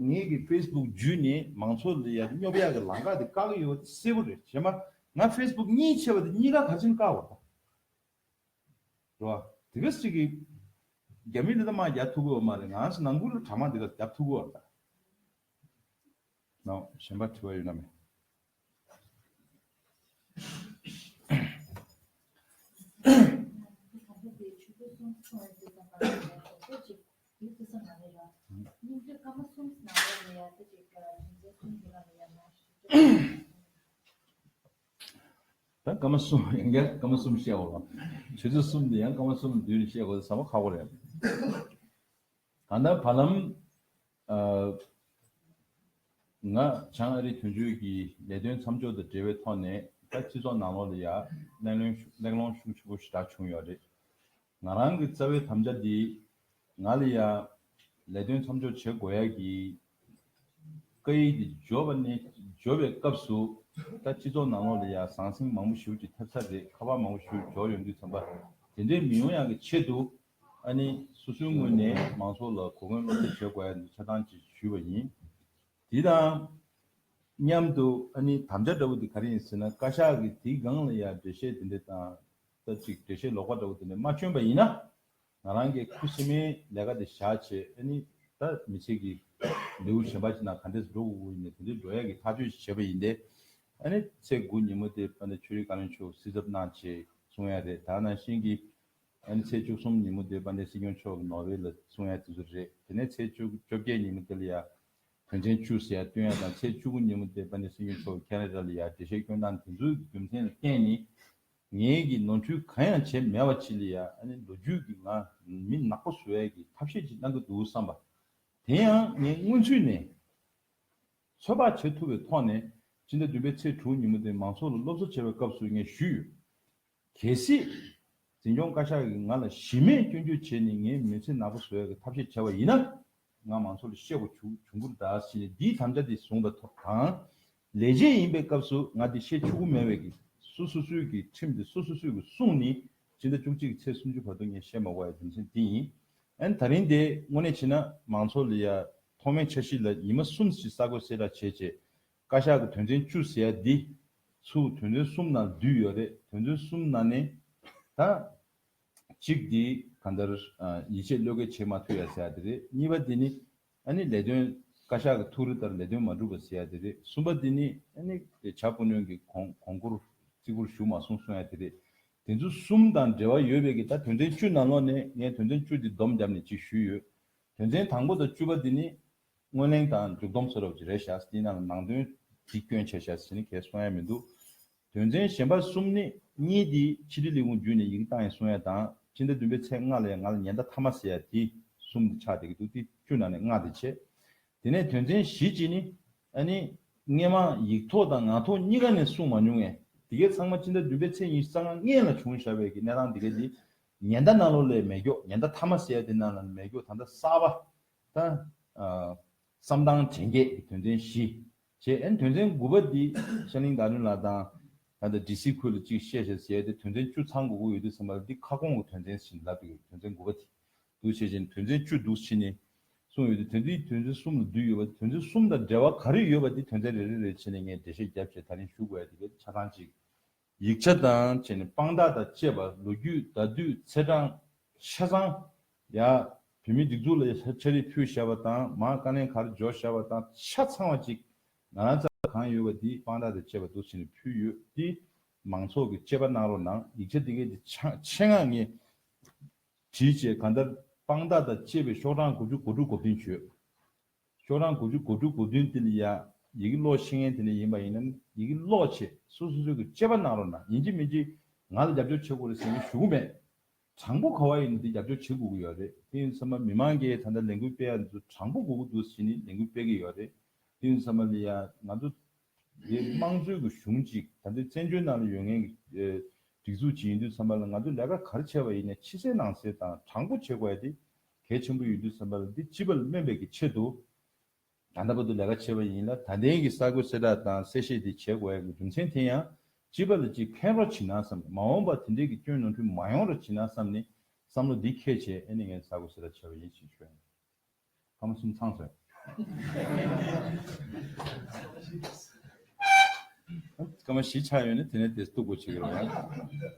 ངེད་ཀྱི Facebook བརྒྱུད་ནས་མང་ཚོགས་ལ་ཡ་དེ་སྙོབ་ཡག་གི་ལངས་ཀ་དེ་བཀག་གི་ཡོད་བ་དེ་གསལ་བོ་རེད། གཞན་མ། ང Facebook གཉིས་ཆེ་བ་དེ་གཉིས་ཀ་གར་ཕྱིན་བཀག་བ་ད། འགྲོ་བ། དེ་ག་ཅིག་གིས། རྒྱ་མི་འདི་ད་མ་རྒྱག་ཐུག་གོ་བ་མ་རེད་ང་ཚོ་ནང་ཁུལ་ལོ་གྲ་མ་འདི་ག་རྒྱབ་ཐུག་གོ་བ་རེད་ད། གཞན་པ་དྲི་བ་ཡོད་ན་མེད། ད་སྐར་མ་གསུམ་ཡང་འགལ་སྐར་མ་གསུམ་བཤད་དགོས་ལ། དུས་ཚོད་གསུམ་དེ་ཡང་སྐར་མ་གསུམ་ལ་བསྡུས་ནས་བཤད་དགོས་ཟེར་ས་མ་ཁག་པོ་རེད། གང་ལྟར་བར་ལམ། ང་བྱང་ཨ་རིའི་དོན་གཅོད་ཀྱི་ལས་དོན་མཚམས་འཇོག་དང་འབྲེལ་བའི་ཐོག་ནས་ད་སྤྱི་ཚོགས་ནང་ལོགས་ལ་ཡང་གླེང་སློང་ཤུགས་ཆེན་པོ་ཞེ་དྲག་བྱུང་ཡོད་རེད། ང་རང་གི་རྩ་བའི་དམ་བཅའ་འདི། ང་ལ་ཡང། ལས་དོན་མཚམས་འཇོག་བྱེད་དགོས་ཡ་གི། བཀའ་ཡིག་འདི་འབྱོར་བ་ནས་འབྱོར་བའི་སྐབས་སུ། ད་སྤྱི་ཚོགས་ནང་ལོགས་ལ་ཡང་ཟང་ཟིང་མང་པོ་ཞུགས་ཀྱི་ཐེབས་ཚར་རེད་ཁ་བ་མང་པོ་ཞུགས་འཇོག་ཡོང་དུས་ཚང་པ་དེ་འདྲའི་མི་ཡོང་ཡ་གི་ཆེད་དུ། ཨ་ནི་སོ་སོའི་ངོས་ནས་མང་ཚོགས་ལ་གོ་སྐོན་བློ་གསལ་བྱེད་དགོས་ཡ་འདི་ཆ་ཚང་གཅིག་ཞུས་པ་ཡིན། དེ་དང། མཉམ་དུ་ཨ་ནི་དམ་བཅའ་འདྲ་བོ་འདི་ག་རེ་ཡིན་ཟེར་ན་བཀའ་ཤག་གི་དེའི་སྒང་ལ་ཡང་འགྲེལ་བཤད་དེ་འདྲའི་དང། ད་ཅིག་འགྲེལ་བཤད་ལོག་པ་འདྲ་བོ་དེ་ནས་མ་བྱོན་པ་ཡིན་ན། ང་རང་གི་ཁུ་སིམ་མེའི་ལས་ཀ་དེ་བཞག་བྱས་ཨེ་ནི། ད་མི་ཚེ་གི་ལེའུ་གཞན་པ་ཅིག་ནང་ག་འདྲས་སུ་འགྲོ་དགོས་དགོས་ཡིན་ནས་དེ་འདྲའི་འགྲོ་ཡ་གི་ཐག་གཅོད་ཅིག་བྱས་པ་ཡིན་ཏེ། ཨེ་ནི། ཚེས་དགུ་ཉིན་མོ་དེ་པད་ཟླ་ཆོས་རིག་བཀའ་བློན་མཆོག་སྲིད་ཚབ་གནང་བྱས་གསུང་ཡ་རེད་ད་ནང་བཞིན་གྱི། ཨེ་ནི་ཚེས་བཅུ་གསུམ་ཉིན་མོ་དེ་པད་ཟླའི་སྲིད་སྐྱོང་མཆོག་གི་ནོར་བྷེལ་ལ་གསུང་ཡ་དེ་ཚོ་རེད་དེ་ནས་ཚེས་བཅུ་བཅོ་བརྒྱད་ཉིན་མོ་དེ་ལ་ཡ། དོན་ཚན་བཅུ་ཟེར་ཡ་བཏོན་ཡ་དང་ཚེས་བཅུ་དགུ་ཉིན་མོ་དེ་པད་ཟླའི་སྲིད་སྐྱོང་མཆོག་གི་ཁེ་ར་ར་ལ་ཡ་འགྲེལ་བཤད་སྐྱོན་སྟངས་དེ་ཚོའི་རྒྱུ་མཚན་ལ་བརྟེན་ནས། ངེད་ཀྱིས་ནོར་འཁྲུལ་གང་ཡང་བྱས་མེད་བ་ཆི་ལི་ཡ་ཨ་ནི་ལོ་རྒྱུས་ཀྱི་ངང་མི་ནག་པོ་བཟོ་ཡས་ཀྱི་ཐབས་ཤེས་ཅིག་གནང་གི་འདུག་བསམ་པ། དེ་ཡང་ངས་སྔོན་ཚུད་ནས་ཚོད་དཔག་བྱེད་ཐུབ་པའི་ཐོག་ནས་སྤྱི་ཟླ་བདུན་པའི་ཚེས་དྲུག་ཉིན་མོ་དེ་མང་ཚོགས་ལ་སློབ་གསོ་བྱེད་པའི་སྐབས་སུ་ངས་ཞུས་ཡོད། གལ་སྲིད། འཛིན་སྐྱོང་བཀའ་ཤག་གིས་ང་ལ་གཞི་མེད་སྐྱོན་བརྗོད་བྱས་ནས་ངའི་མི་ཚེ་ནག་པོ་བཟོ་ཡས་ཀྱི་ཐབས་ཤེས་བྱས་པ་ཡིན་ན། ངག་མང་ཚོགས་ལ་གཤེ་བོ་ཆུ་བུར་འདར་བྱས་ནས་འདིའི་དམ་བཅའ་འདི་བཟུང་བ་ཐོབ་དང། ལས་བྱེད་ཡིན་པའི་སྐབས་སུ་ང་འདི་བཤད་ཆུ་བོ་མེད་བས་ཀྱིས་སུ་སུ་སུའི་ཀྱི་ཁྲིམས་འདི་སུ་སུ་སུས་ཀྱི་གསུང་ནི་སྤྱི་ཟླ་བཅུ་གཅིག་གི་ཚེས་སུམ་ཅུ་བར་དུ་ངས་བཤད་མ་བ་ཡི་རྒྱུ་མཚན་འདི་ཡིན། ཨན་ད་རིང་དེ་དངོས་གནས་བྱས་ན་མང་ཚོགས་ལ་ཡ་ཐོག་མའི་འཆར་གཞི་ལ་ཉི་མ་གསུམ་ཞིག་གསར་འགོད་གསལ་བསྒྲགས་བྱས་རྗེས་བཀའ་ཤག་གི་དོན་ཚན་བཅུ་ཟེར་ཡ་འདི་ཚུ་དོན་ཚན་གསུམ་ནང་བསྡུས་ཡོད་རེད་དོན་ཚན་གསུམ་ནང་ནས་ད། གཅིག་འདི་ག་འདིར་ཡིད་ཆེས་བློས་འགེལ་བྱེད་མ་ཐུབ་ཡ་ཟེར་ཡ་དེ་རེད་གཉིས་པ་འདི་ནི་ཨ་ནི་ལས་དོན་བཀའ་ཤག་གི་ཐུགས་རེ་ལྟར་ལས་དོན་མ་འགྲུབ་པ་ཟེར་ཡ་དེ་རེད་གསུམ་པ་འདི་ནི་ཨ་ནི་བྱ་སྤུ་གནོན་གྱི་གོང་གོང་བཀུར་བརྩི་བཀུར་ཞུ་མ་སོང་གསུང་ཡ་དེ་རེད་དེ་ཚོ་གསུམ་དང་འབྲེལ་བ་ཡོད་པས་ཀྱི་ད་དོན་ཚན་བཅུ་ནང་ལོགས་ནས་ངས་དོན་ཚན་བཅུ་འདི་བསྡོམས་བརྒྱབ་ནས་ཅིག་ཞུས་ཡོད་དོན་ཚན་དང་པོ་དང་བཅུ་པ་འདི་ནི་སྔོན་གླེང་དང་མཇུག་བསྡོམས་ཚོ་རབ་ཀྱི་རེད་བཞག་ཟིན་ནའང་ནང་དོན་འདི་སྐྱོན་ཆེ་བཞག་ཟིན་ནི་གལ་གསུང་ཡ་མི་འདུག་དོན་ཚན་གཞན་པ་གསུམ་ནི་གཉིས་དེ་ཕྱི་དྲིལ་ལས་ཁུངས་བརྒྱུད་ནས་ཡི་གེ་བཏང་ཡ་གསུང་ཡ་དང་སྤྱི་ཟླ་བདུན་པའི་ཚེས་ལྔ་ལས་ང་ལ་ཉེན་བརྡ་ཐ་མ་ཟེར་ཡ་དེ་གསུམ་དེ་ཆགས་བསྡད་ཀྱི་འདུག་དེ་བཅུ་ནང་ནས་ལྔ་དེ་ཆད། དེ་ནས་དོན་ཚན་བཞི་གཅིག་ནི་ཨ་ནི། སྔས་མ་ཡིག་ཐོག་དང་ངག་ཐོག་གཉིས་ཀ་ནས་གསུང་མ་མྱོང་ངས་དེ་གའི་ཚང་མ་སྤྱི་ཟླ་བདུན་པའི་ཚེས་ཉི་ཤུ་རྩ་ལྔ་ལྔས་ལ་བྱུང་བཞག་བས་ཀྱི་གནས་སྟངས་དེ་ག་དེ་ཉེན་བརྡ་གནང་ལོ་ལས་མེད་སྒྱོགས་ཉེན་བརྡ་ཐ་མ་ཟེར་ཡ་དེ་གནང་ལ་མེད་སྒྱོགས་ད་ལྟ་གསར་པ་ད། བསམ་དང་དྲན་བརྒྱད་ཀྱི་དོན་ཚན་བཞི། ཞེས་ཨན་དོན་ཚན་དགུ་པ་འདི་ཤར་གླིང་དག་ནུས་ལགས་དང། ད་ལྟ་འདྲི་སིག་ཁུལ་ལ་ཅིག་བཤད་ཞེས་ཟེར་ཏེ་དོན་ཚན་བཅུ་ཚང་དགོས་ཀྱི་ཡོད་དུས་སེམས་པ་འདི་ཁ་སྐོང་གི་དོན་ཚན་བཞིན་ལབ་པའི་དོན་ཚན་དགུ་པ་དེ་འདུག་བྱས་ཅན་དོན་ཚན་བཅུ་འདུག་བྱས་ནས་གསུངས་ཡོད་དུས་དོན་འདི་དོན་ཚན་གསུམ་ལ་བསྡུས་ཡོད་པ་དེ་དོན་ཚན་གསུམ་དང་འབྲེལ་བ་ག་རེ་ཡོད་པ་དེ་དོན་ཚན་རེ་རེ་རེ་བྱས་ནས་ངས་འགྲེལ་བཤད་བརྒྱབ་བྱས་ད་རིང་བཞུགས་དགོས་ཡ་དེ་གའི་ཆ་ཚང་ཅིག་ཡིག་ཆ་དང་བཅས་ནས་དཔང་རྟགས་དང་བཅས་པ་ལོ་རྒྱུས་ཟླ་དུས་ཚེས་གྲངས། ཆ་ཚང། ཡ། བོད་མིའི་སྒྲིག་འཛུགས་ལ་ཡ་ཆ་རིས་ཕུད་བཞག་པ་དང་མང་དཀའ་ལན་གར་འཇོག་བཞག་པ་དང་ཆ་ཚང་བ་ཅིག་ང་རང་ཚ་བ་གང་ཡོད་པ་དེ་དཔང་རྟགས་དང་བཅས་པ་འདུག་ཟེར་ནས་ཕུལ་ཡོད་དེ། མང་ཚོགས་ཀྱིས་དཔྱད་པ་གནང་རོགས་གནང་ཡིག་ཆ་དེ་གའི་དེ་ཆེད་མངགས་ངས་བྲིས་བྱས་གང་ལྟར་དཔང་རྟགས་དང་བཅས་པའི་ཤོག་གྲངས་དགུ་བཅུ་གོ་དྲུག་གོ་བདུན་བྱོས། ཁྱོད་རང་དགུ་བཅུ་དགུ་དྲུག་དགུ་བདུན་དེ་ལ་ཡི་གེ་ཀློག་ཤེས་མཁན་དེ་ལས་ཡིན་པ་ཡིན་ན་ཡི་གེ་ཀློག་ཆེད་སུ་སོ་སོའི་གི་དཔྱད་པ་གནང་རོགས་གནང་ཡིན་གཅིག་མིན་གཅིག་ང་ལ་རྒྱབ་སྐྱོར་བྱེད་དགོས་རེད་ཟེར་མཁན་ཞུ་གི་མེད། དྲང་པོ་ག་བ་ཡིན་ན་དེ་རྒྱབ་སྐྱོར་བྱེད་དགོས་ཀྱི་ཡོད་རེད་དེ་ཡིན་ཚང་མ་མི་མང་གི་ད་ལྟ་ལས་འགུལ་སྤེལ་ཡ་འདི་ཚོ་དྲང་པོ་དགོས་ཀྱི་འདུག་ཟེར་ནས་ལས་འགུལ་སྤེལ་གྱི་ཡོད་རེད་དེ་ཡིན་ཚང་མ་ལ་ཡ་ང་ཚོ་དེ་དམངས་གཙོའི་གི་གཞུང་གཅིག་ད་ལྟའི་བཙན་བྱོལ་ནང་ལ་ཡོད་མཁན་གི་སྒྲིག་འཛུགས་གཅིག་ཡིན་དུས་ཚང་མ་ལ་ང་ཚོ་ལས་ཀ་ག་རེ་བྱས་པ་ཡིན་ན་ཕྱི་གསལ་ནང་གསལ་དང་དྲང་པོ་བྱེད་དགོས་ཡ་དེ་གལ་ཆེན་པོ་ཡོད་དུས་སེམས་པ་ལ་འདི་ཅི་བ་ལ་སྨན་པའི་ཀྱི་ཆེད་དུ། ད་ལྟ་བར་དུ་ལས་ཀ་བྱེད་པ་ཡིན་ལ་ད་ལྟའི་གི་གསར་འགོད་གསལ་བསྒྲགས་དང་གསལ་བཤད་དེ་བྱེད་དགོས་གི་རྒྱུ་མཚན་དེ་ཡང་ཅི་བ་ལ་ཅིག་ཕན་རོགས་བྱིན་ན་བསམ་གི་མ་འོངས་པར་དེ་འདྲའི་གི་སྐྱོན་ནོར་འཁྲུལ་མ་ཡོང་རོགས་བྱིན་ན་བསམ་ནི་བསམ་བློ་འདི་ཁས་བྱས་ཨེ་ནི་ངས་གསར་འགོད་གསལ་བསྒྲགས་བྱས་པ་ཡིན་ཞེས་བརྗོད་ཡོང། ཕ་མ་གསུམ་ཚང་ཟེར། སྐར་མ་བཞི་ཆགས་ཡོད་ནི་དེ་ནས་དེ་གཏུགས་དགོས་བྱེད་ཀྱི་རོགས་ཡ།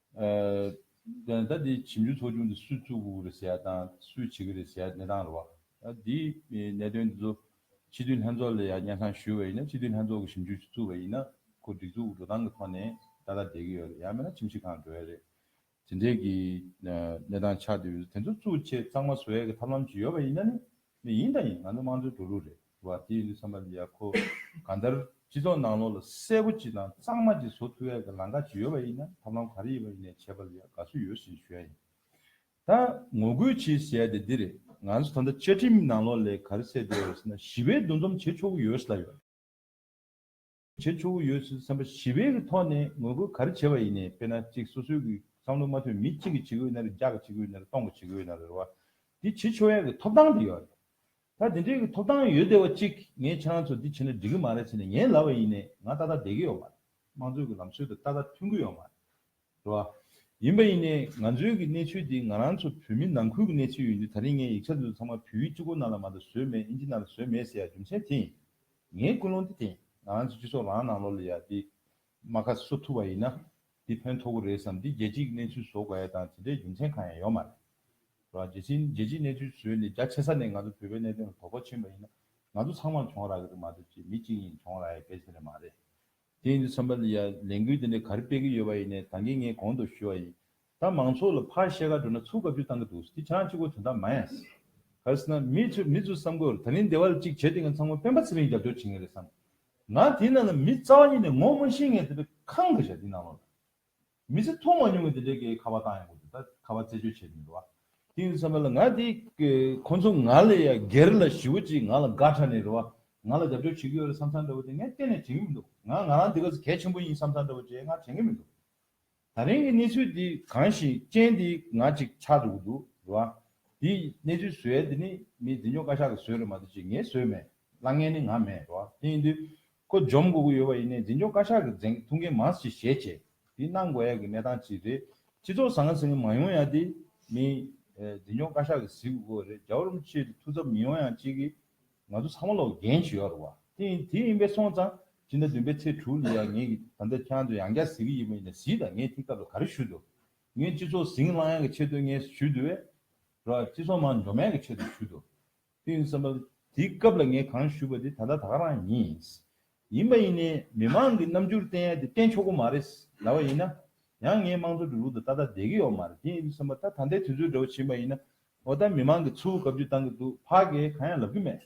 ཨ། ད་འདི་བྱིས་འཇུ་ཚོགས་ཆུང་འདི་སུས་བཙུགས་འུ་རེད་ཟེར་ཡ་དང་སུས་བྱེད་ཀི་རེད་ཟེར་ཡ་གནས་སྟངས་རེད་བ། ད་འདི་གནད་དོན་འདི་ཚོ་སྤྱི་འཐུས་ལྷན་ཚོགས་ལ་ཡང་སྙན་སང་ཞུས་བ་ཡིན་ན་སྤྱི་འཐུས་ལྷན་ཚོགས་ཀྱི་བྱིས་འཇུ་བཙུགས་པ་ཡིན་ན་ཁོ་སྒྲིག་འཛུགས་འགྲོ་སྟངས་ཀྱི་ཐོག་ནས་ད་ལྟ་བསྡད་ཀྱི་ཡོད་རེད་ཡང་མིན་ན་ཁྱིམ་གཞི་ཁང་འགྲོ་ཡ་རེད། དེ་འདྲའི་གི་གནས་སྟངས་ཆགས་འདུག་དེ་ཚོ་བཙུགས་ཆེད་གཙང་མ་བཟོ་ཡ་གི་ཐབས་ལམ་ཅིག་ཡོད་པ་ཡིན་ན་ནི་ནི་ཡིན་དང་ཡིན་ང་ཚོ་དམངས་གཙོའི་འགྲོ་ལུགས་རེད་བ་དེ་ཡིན་དུས་བསམ་པ་འདི་ཡག་ཁོ་གང་ལྟར་སྤྱི་ཚོགས་ནང་ལོག་ལ་གསལ་པོ་ཅིག་དང་གཙང་མ་ཅིག་བཟོ་ཐུབ་ཡག་གི་ལང་ཀ་ཅིག་ཡོད་པ་ཡིན་ན་ཐབས་ལམ་ག་རེ་ཡིན་པ་ཡིན་ནས་བྱས་པ་ལ་ཡག་དགའ་བསུ་ཡོད་ཟིན་ཞུ་ཡག་ཡིན་ད་ངོ་རྒོལ་བྱེད་ཟེར་ཡག་དེ་འདི་རེད་ང་ཚོ་ད་ལྟ་བཅའ་ཁྲིམས་ནང་ལོག་ལས་ག་རེ་བསྲེས་བསྡད་ཡོད་ཟེར་ན་ཞི་བའི་འདུ་འཛོམས་བྱེད་ཆོག་གི་ཡོད་ལ་ཡོད། བྱེད་ཆོག་གི་ཡོད་ཚུལ་བསམ་པ་ཞི་བའི་གི་ཐོག་ནས་ངོ་རྒོལ་ག་རེ་བྱས་པ་ཡིན་ནས་དཔེར་ན་ཅིག་སོ་སོའི་གི་བསམ་བློ་མ་མཐུན་མི་གཅིག་གི་བྱེད་གོས་ན་རེ་བརྒྱ་གི་བྱེད་གོས་ན་རེ་སྟོང་གི་བྱེད་གོས་ན་རེ་རེ་བ་འདི་བྱེད་ཆོག་ཡ་གི་ཐོབ་ཐང་དེ་ཡོད་རེད། ད་དེ་འདྲའི་གི་ཐོབ་ཐང་ཡོད་བསྡད་བ་གཅིག་ངས་ཁྱེད་རང་ཚོ་འདི་བྱེད་ན་འགྲིག་གི་མ་རེད་ཟེར་ནས་ངའི་ལབ་བ་ཡིན་ནས་ང་ཏག་ཏག་བསྡད་གི་ཡོད་མ་རེད་དམངས་གཙོའི་གི་ལམ་སྲོལ་དུ་ཏག་ཏག་མཐུན་གི་ཡོད་མ་རེད། འགྲོ་བ། ཡིན་པ་ཡིན་ནའི་ང་ཚོའི་གི་གནས་ཚུལ་འདི་ང་རང་ཚོ་བོད་མི་ནང་ཁུལ་གི་གནས་ཚུལ་ཡིན་དུས་ད་རིང་ངའི་ཡིག་ཆ་འདི་ཚོ་ཚང་མ་བུའི་སྤྱི་སྒོ་ནང་ལ་མ་གཏོགས་བཟོས་མེད་ཨིན་ཇི་ནང་ལ་བཟོས་མེད་ཟེར་ཡ་རྒྱུ་མཚན་དེ་ཡིན། ངའི་ཀུན་སློང་འདི་དེ་ཡིན་ང་རང་ཚོའི་སྤྱི་ཚོགས་རང་ནང་ལོགས་ལ་ཡ་འདི་མ་ཁ་གསོ་ཐུབ་པ་ཡིན་ན་འདི་ཕན་ཐོག་གི་རེད་བསམ་འདི་རྒྱལ་སྤྱིའི་གི་གནས་ཚུལ་བཟོ་དགོས་ཡ་དང་དེ་འདྲའི་རྒྱུ་མཚན་གང་ཡང་ཡོད་མ་རེད། འགྲོ་བ། རྒྱལ་སྤྱིའི་གནས་ཚུལ་བཟོས་ནས་རྒྱ་ཆེ་ས་ནས་ང་ཚོ་བོད་པའི་གནད་དོན་ལ་དོ་ཕོག་ཕྱིན་པ་ཡིན་ན་ང་ཚོ་ཚང་མར་གྱོང་རག་གི་རེད་མ་གཏོགས་ཅི་མི་གཅིག་གཉིས་གྱོང་རག་ཡ་གལ་ཆེན་རེད་མ་རེད། དེ་ཡིན་དུས་ཚང་མ་ལས་འགུལ་འདི་འདྲ་ག་རེ་སྤེལ་གི་ཡོད་པ་ཡིན་ནས་ད་གིན་ངས་གོང་དུ་ཞུས་བ་ཡིན། ད་མང་ཚོགས་ལ་ཕར་བཤད་ཁ་འགྲོ་ན་ཚུར་དགའ་བསུ་བཏང་གི་འདུག་དེ་ཆང་གཅིག་པོ་དོན་དག་མ་ཡིན། གལ་སྲིད་ན་མི་ཚོས་མི་ཚོའི་བསམ་དགོས་ད་རིང་སྡེ་བ་ལ་གཅིག་བྱས་དེ་ངས་ཚང་མ་སྤེན་པ་ཚེ་རིང་རྒྱབ་སྐྱོར་བྱེད་ངེས་རེད་བསམ། ང་དེའི་ནང་ལ་མི་རྩ་བ་ཉིད་ནས་ངོ་མ་ཤེས་ངས་དེ་བས་ཁང་བདེ་བྱ་དེའི་ནང་ལོགས་ལ། མི་ཚེ་ཐུང་མ་མྱོང་གི་དེ་འདྲའི་གི་ཁ་བ་བཏང་ཡོང་གི་འདུག་ད་ཁ་བ་རྩད་གཅོད་བྱས་མི་འདུག་བ། དེ་ཡིན་ས་མེད་ལ་ང་དེ་གི་ཁོང་ཚོ་ང་ལས་ཡ་གེར་ལ་ཞི་བོ་ཅིག་ང་ལ་དགའ་ཁྲ་ནས་རེད་བ། ང་ལ་རྒྱབ་སྐྱོར་བྱེད་གི་ཡོད་རེད་བསམ་བསམ་འདྲ་བོ་དེ་ངས་གཏན་ནས་བྱེད་གི་མི་འདུག་ང་ང་རང་དེ་ག་ཚོད་གལ་ཆེན་པོ་ཡིན་བསམ་བསམ་འདྲ་བོ་བྱེད་ང་དྲན་གི་མི་འདུག་ད་རིང་གི་གནས་ཚུལ་དེ་གང་ཞིག་ཅན་དེ་ང་ཅིག་ཆགས་འགྲོ་གི་འདུག་རེད་བ། དེ་གནས་ཚུལ་བཟོས་ཡ་དེ་ནི་མི་འདི་ཉོག་བཀའ་ཤག་གི་བཟོས་རེད་མ་གཏོགས་ཅིག་ངས་བཟོས་མེད་ལ་ངས་ནི་ང་མེད་རེད་བ་དེ་ཡིན་དུས། ཁོ་འཇོམས་དགོས་ཀྱི་ཡོད་པ་ཡིན་ནའི་འཛིན་སྐྱོང་བཀའ་ཤག་གི་འཛིན་ཐུབ་མཁན་མང་ཞིག་བཞེས་ཆེད་དེ་གནང་དགོས་ཡག་གི་གནས་སྟངས་ཅིག་རེད། སྤྱི་ཚོགས་བཟང་ངན་ཟེར་མཁན་མང་ཡོང་ཡག་དེ་མིན། འཛིན་སྐྱོང་བཀའ་ཤག་གི་གཟིགས་དགོས་དགོས་རེད་རྒྱ་རོམ་ཆེད་དུ་ཐུགས་འཚབ་མི་ཡོང་ཡང་ཅིག་གི། ང་ཚོ་ཚང་མ་ལོག་རྒན་ཞིག་ཡོད་རེད་བ། དེ་ཡིན་དེ་ཡིན་པས་སོང་ཙང་སྤྱི་ཟླ་བདུན་པའི་ཚེས་དྲུག་ལ་ཡང་ངེད་ཀྱི་ད་ལྟ་ཁྱང་དུ་ཡང་བསྐྱར་གཟིགས་ཀྱི་ཡིན་པ་ཡིན་ནའི་གཟིགས་དང་ངས་ཐིག་སྐབས་ལ་ག་རེ་ཞུ་འདུག་ངས་སྤྱི་ཚོགས་ཟིང་བསླང་ཡག་གི་ཆེད་དུ་ངས་ཞུ་འདུག་བས། རོགས་སྤྱི་ཚོགས་མང་འཇོམས་ཡག་གི་ཆེད་དུ་ཞུ་འདུག། ཏིན་བསམ་པ། དེའི་སྐབས་ལ་ངས་གང་ཞུས་པ་དེ་ད་ལྟ་ད་ག་རང་ཡིན། ཡིན་པ་ཡིན་ནས་མི་མང་གི་རྣམ་འགྱུར་བསྟན་ཡ་དེ་བསྟན་ཆོག་གི་མ་རེད་ཟླ་བ་ཡིན་ན། ཡང་ངས་དམངས་གཙོ་འགྲོ་ལུགས་དང་ཏག་ཏག་བསྡད་ཀྱི་ཡོག་མ་རེད་ཏིན་བསམ་པ། ད་ད་ལྟའི་དུས་ཚོད་འདྲ་བོ་བྱེད་པ་ཡིན་ན། འོ་ད་མི་མང་གི་ཚུར་བཀའ་བརྒྱུད་བཏང་གི་འདུག་ཕ་གས་གང་ཡང་ལབ་ཀྱི་མེད།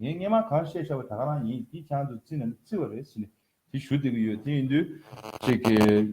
ངས་སྔས་མ་གང་བཤད་ཤག་པ་ད་ག་རང་ཡིན་དེ་ཁྱང་དུ་བརྩི་ན་མི་བརྩི་བ་རེད་ཟེར་ནས་དེ་ཞུ་བསྡད་ཀྱི་ཡོད་དེ་ཡིན་དུས། ཅིག་གིས།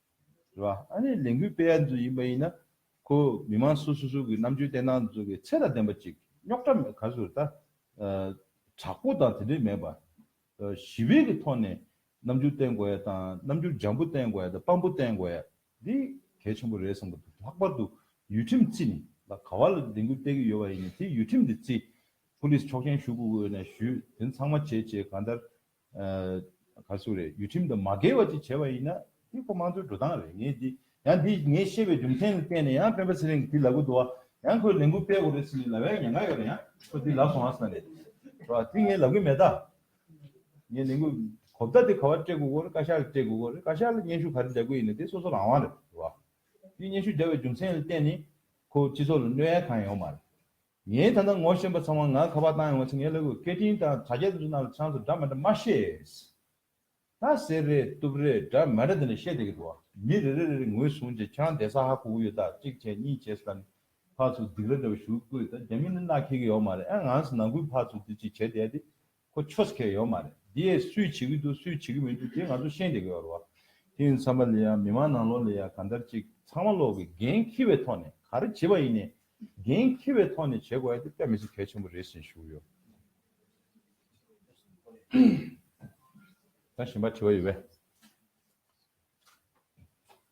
རེད་བ། ཨ་ནི་ལས་འགུལ་སྤེལ་ཡ་འཛུགས་ཡིན་པ་ཡིན་ན། ཁོ་མི་མང་སུ་སུ་སུ་གི་རྣམ་དཔྱོད་བརྟན་སྣང་འཛུགས་པའི་ཚད་ལ་ལྡན་པ་ཅིག་རྙོག་དྲ་མེད་ག་ཟུར་ད། དྲག་པོ་དང་དེ་འདྲས་མེད་པར། ཞི་བའི་གི་ཐོག་ནས་རྣམ་འགྱུར་བསྟན་དགོས་ཡ་དང་རྣམ་འགྱུར་འཇམ་པོ་བསྟན་དགོས་ཡ་དང་དཔང་པོ་བསྟན་དགོས་ཡ་འདི་གལ་ཆེན་པོ་རེད་བསམ་གི་འདུག་ལྷག་པར་དུ་ཡུལ་ཁྲིམས་བརྩི་ནས་ལ་ག་བ་ལ་ལས་འགུལ་སྤེལ་གི་ཡོད་པ་ཡིན་ན་དེ་ཡུལ་ཁྲིམས་དེ་བརྩི། ཕུ་ལིས་ཆོག་མཆན་ཞུ་དགོས་དགོས་ན་ཞུས་དེ་ཚང་མ་བྱས་བྱས་གང་ལྟར་ཨ། ག་སུ་རེད་ཡུལ་ཁྲིམས་དང་མ་འགལ་བ་ཅིག་བྱས་པ་ཡིན་ན། དེ་ཁོ་དམངས་གཙོའི་འགྲོ་སྟངས་རེད་ངས་འདི། ཡང་འདི་ངས་བཤད་པའི་རྒྱུ་མཚན་ལ་བརྟེན་ནས་ཡང་སྤེན་པ་ཚེ་རིང་གིས་འདི་ལབ་གི་འདུག་བ། ཡང་ཁོས་ལས་འགུལ་སྤེལ་དགོས་རེད་ཟེར་ནས་ལབ་ཡ་ཉེན་ཁ་ཡོད་རེད་ཡང་ཁོས་འདི་ལབ་སོང་བ་ཟེར་ནས། རེད་བ། འདི་ངས་ལབ་གི་མེད་ད། ངས་ལས་འགུལ། གོ་བརྡ་དེ་ག་བར་སྤྲད་དགོས་དགོས་རེད་བཀའ་ཤག་ལ་སྤྲད་དགོས་དགོས་རེད་བཀའ་ཤག་ལ་སྙན་ཞུ་ག་རེ་འདྲ་དགོས་ཡིན་ན་དེ་སོ་སོ་རང་དབང་རེད་བ། འདི་སྙན་ཞུ་འདྲ་བའི་རྒྱུ་མཚན་ལ་བརྟེན་ནས། ཁོ་སྤྱི་ཚོགས་ལ་གནོད་ཡ་གང་ཡོང་མ་རེད། ངས་ད་ལྟ་ངོ་ཤེས་པ་ཚང་མ་ང་ཁ་པར་བཏང་ཡོང་བ་ཚོས་ངའི་ལུས་པོ་སྐད་འཕྲིན་དང་དྲ་རྒྱ་དེ་ཚོ་ནང་ལ་ཆང་ཚོ་འདྲ་མ་འདྲ་མ་བཤད། ད་ཟེར་རེད་གཏུབ་རེད་འདྲ་མ་འདྲ་དེ་འདྲ་བཤད་བསྡད་ཀྱི་འདུག་ཨ། མི་རེ་རེ་རེ་རེ་ངོས་བཟུང་རྗེས་ཆང་དེ་ས་ཧ་གོ་གི་ཡོད་ད་གཅིག་བྱས་གཉིས་བྱས་ཟེར་ད་ནི་ཕག་ཚོ་སྡིག་ར་འདྲ་བ་ཞུ་གི་ཀོས་ད་རྒྱ་མི་ནི་མནའ་ཁེལ་གི་ཡོག་མ་རེད་ཨ་ང་ཚོ་ནང་ཁུལ་ཕག་ཚོ་འདི་གཅིག་བྱས་བསྡད་དེ་ཁོ་ཆོས་སྐལ་ཡོད་མ་རེད་འདི་ཡས་སུས་བྱེད་ཀྱི་འདུག་སུས་བྱེད་ཀྱི་མི་འདུག་དེ་ང་ཚོ་ཤེས་བསྡད་ཀྱི་ཡོད་རེད་བ། དེ་ཡིན་བསམ་པ་ལས་ཡང་མི་མང་ནང་ལོག་ལས་ཡང་གང་ལྟར་ཅིག་ཚང་མ་ལོག་གི་འགན་འཁྱེར་བའི་ཐོག་ནས་ག་རེ་བྱེད་པ་ཡིན་ནས་འགན་འཁྱེར་བའི་ཐོག་ནས་བྱེད་དགོས་ཡ་དེ་དཔེ་མི་སྲིད་གལ་ཆེན་པོ་རེད་ཟེར་ཞུ་ཡོད། ད་གཞན་པ་དྲི་བ་ཡོད་པས།